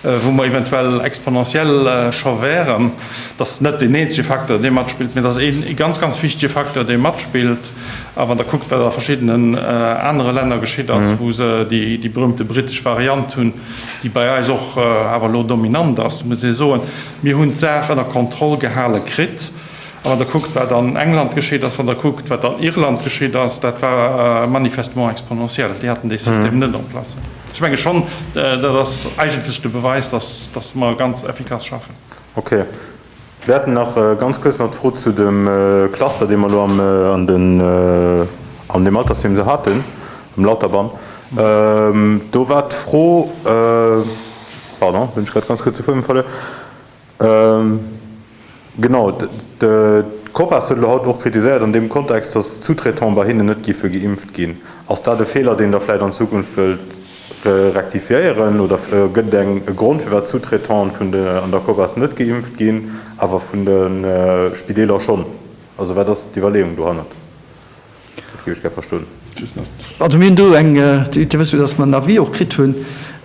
wou mer eventuell exponentiell scho wären. Dat ass net deen eenzege Facteur, dee matspillt, mee dat ass ee ganz, ganz wichtige Facteur, dee matspillt. A wann Der kuckt, wat a verschiddenen anere Länner geschitt ass, wou se déi berühmte britesch Variant hunn, déi bei eis och awer elo dominant ass, muss ee soen, mir hunn d'Saach ënner Kontroll gehale kritt. A wann Der kuckt, wat an England geschitt ass, wann Der kuckt, wat an Irland geschitt ass, dat war manifestement exponentiel. Déi haten dee System net en place. Ech menge schonn, dat ass eigentlech de Beweis, dass mer ganz effikass schaffen. Okay. Mir hätten nach ganz kuerz nach d'Fro zu dem Cluster, dee mer elo an deem Altersheem esou haten, um Lauterbahn. Do war d'Fro, pardon, hunn ech grad ganz kuerz de Fuedem verluer, genau, d'Copas huet elo haut och kritiséiert an deem Kontext, datt d'Sous-traitants bei hinnen net géife geimpft ginn. Ass dat e Feeler, deen Der vläicht an Zukunft wëllt Rektifiéieren? Oder gëtt et eng e Grond firwat d'Sous-traitante vun de an der Cogas net geimpft ginn, awer vun de Spideeler schonn? Also wat ass d'Iwwerleeung dohannert? Dat géif ech gär verstoen. Also mir hunn do eng, Dir wësst jo, datt mer en Avis och kritt hu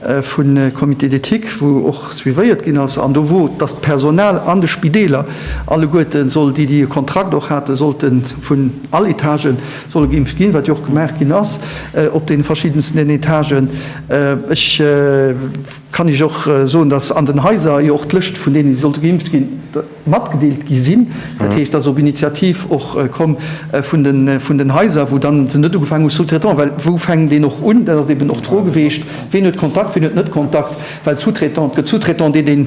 vu Comité d'éthique, wou och suivéiert ginn ass an do wou datt d'Personal an de Spideeler alleguerte soll, déi déi e Kontrakt och haten, sollte vun all Etagen, solle geimpft ginn, wat jo och gemaach ginn ass op deene verschiddensten Etagen. Ech kann Iech och soen, dass an den Haiser jo och d'Lëscht vun deenen, déi sollte geimpft ginn, matgedeelt gi sinn. Dat heescht, dass op Initiativ och komm vun den Haiser, wou dann se net ugefaangen hu sous-traitant, well wou fänkt een och un? Dat ass eben och d'Fro geweecht, ween huet Kontakt, ween huet net Kontakt, well sous-traitant, et gëtt sous-traitant, deen een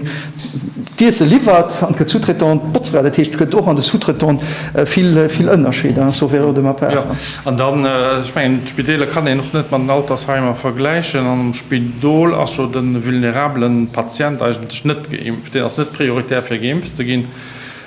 D'Iesse liwwert an et gëtt Sous-traitante, d'Botzfra, dat heescht, et gëtt och an de Sous-traitante vill Ënnerscheeder, sauf erreur de ma part. Jo, an dann, ech mengen, d'Spideeler kann een och net mat den Altersheimer vergläichen. An am Spidol ass jo de vulnerabele Patient eigentlech net geimpft, deen ass net prioritär fir geimpft ze ginn.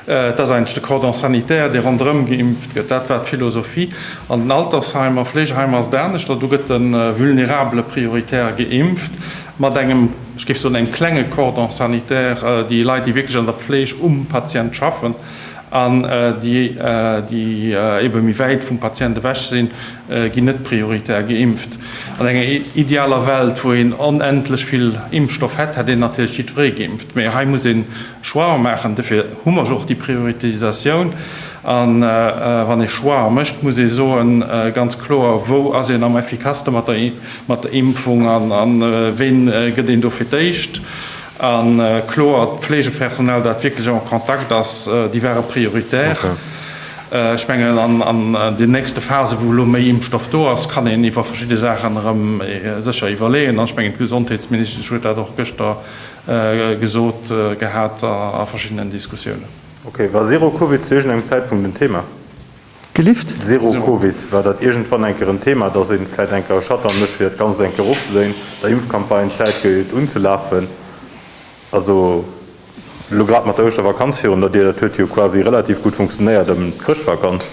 Et ass eigentlech de Cordon sanitaire, dee ronderëm geimpft gëtt. Dat war d'Philosophie. An den Altersheimer, Fleegeheimer ass et aneschter. Do gëtt de Vulnerabele prioritär geimpft mat engem, ech géif soen, engem klenge Cordon sanitaire. Déi Leit, déi wierklech an der Fleeg um Patient schaffen an déi ebe méi wäit vum Patient ewech sinn, ginn net prioritär geimpft. An enger idealer Welt, wou een onendlech vill Impfstoff hätt, hätt een natierlech jiddweree geimpft. Mee hei muss een Choixen maachen. Dofir hu mer jo och déi Prioritisatioun. A wann ee Choixen mécht, muss ee soen, ganz kloer, wou ass een am efficaceste mat der Impfung an ween gëtt een do fir d'éischt. A kloer, d'Pflegepersonal, dat wierklech am Kontakt ass, déi ware prioritär. Ech mengen, an den nächste Phasen, wou elo méi Impfstoff do ass, kann een iwwer verschidde Saachen erëm sécher iwwerleeën. An ech mengen, d'Gesondheetsministesch huet dat och gëschter gesot gehat a verschiddenen Diskussiounen. Ok, war Zero Covid zu iergend engem Zäitpunkt en Thema? Gelift? Zero Covid, war dat iergendwann eng Kéier en Thema, dass ee vläit eng Kéier e Shutdown mécht, fir dat Ganzt eng Kéier erofzedréinen, der Impfcampagne Zäit gëtt unzelafen? Also, elo grad mat der Ouschtervakanz virun der Dier, dat huet jo quasi relativ gutt funktionéiert ëm d'Chrëschtvakanz,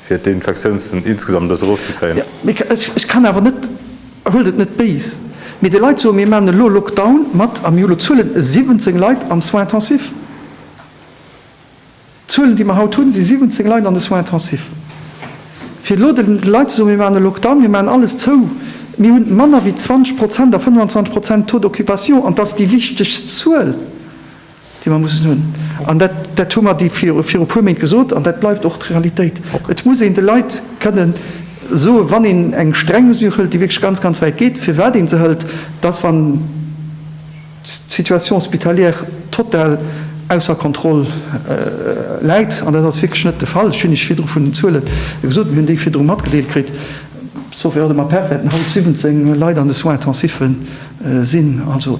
fir d'Infektiounszënn insgesamt e bëssen erofzekréien. Jo, ech kann awer net. Huelt et net béis, mee de Leit soen, mir maachen elo Lockdown mat a mir hu elo Zuelen, 17 Leit am Soins intensifs. D'Zuelen, déi mer haut hunn, si 17 Leit an de Soins intensifs. Fir elo de Leit ze soen, mir maachen e Lockdown, mir maachen alles zou, mir hu manner wéi 20 Prozent a 25 Prozent Taux d'occupation, an dat ass déi wichtegst Zuel. déi mer mussen hunn, an dat, dat hu mer déi vir, viru puer Méint gesot, an dat bleift och d'Realitéit. Et muss een de Leit kënne soen, wann een eng streng Mesure hëlt, déi wierklech ganz, ganz wäit geet, firwat ee se hëlt, dass, wann d'Situation hospitalière total ausser Kontroll läit, an dat ass wierklech net de Fall, ech hunn Iech virdru vun den Zuele gesot, mir hunn déi virdru matgedeelt kritt, sauf erreur de ma part, wäerten haut 17 Leit an de Soins intensiffe sinn. Also.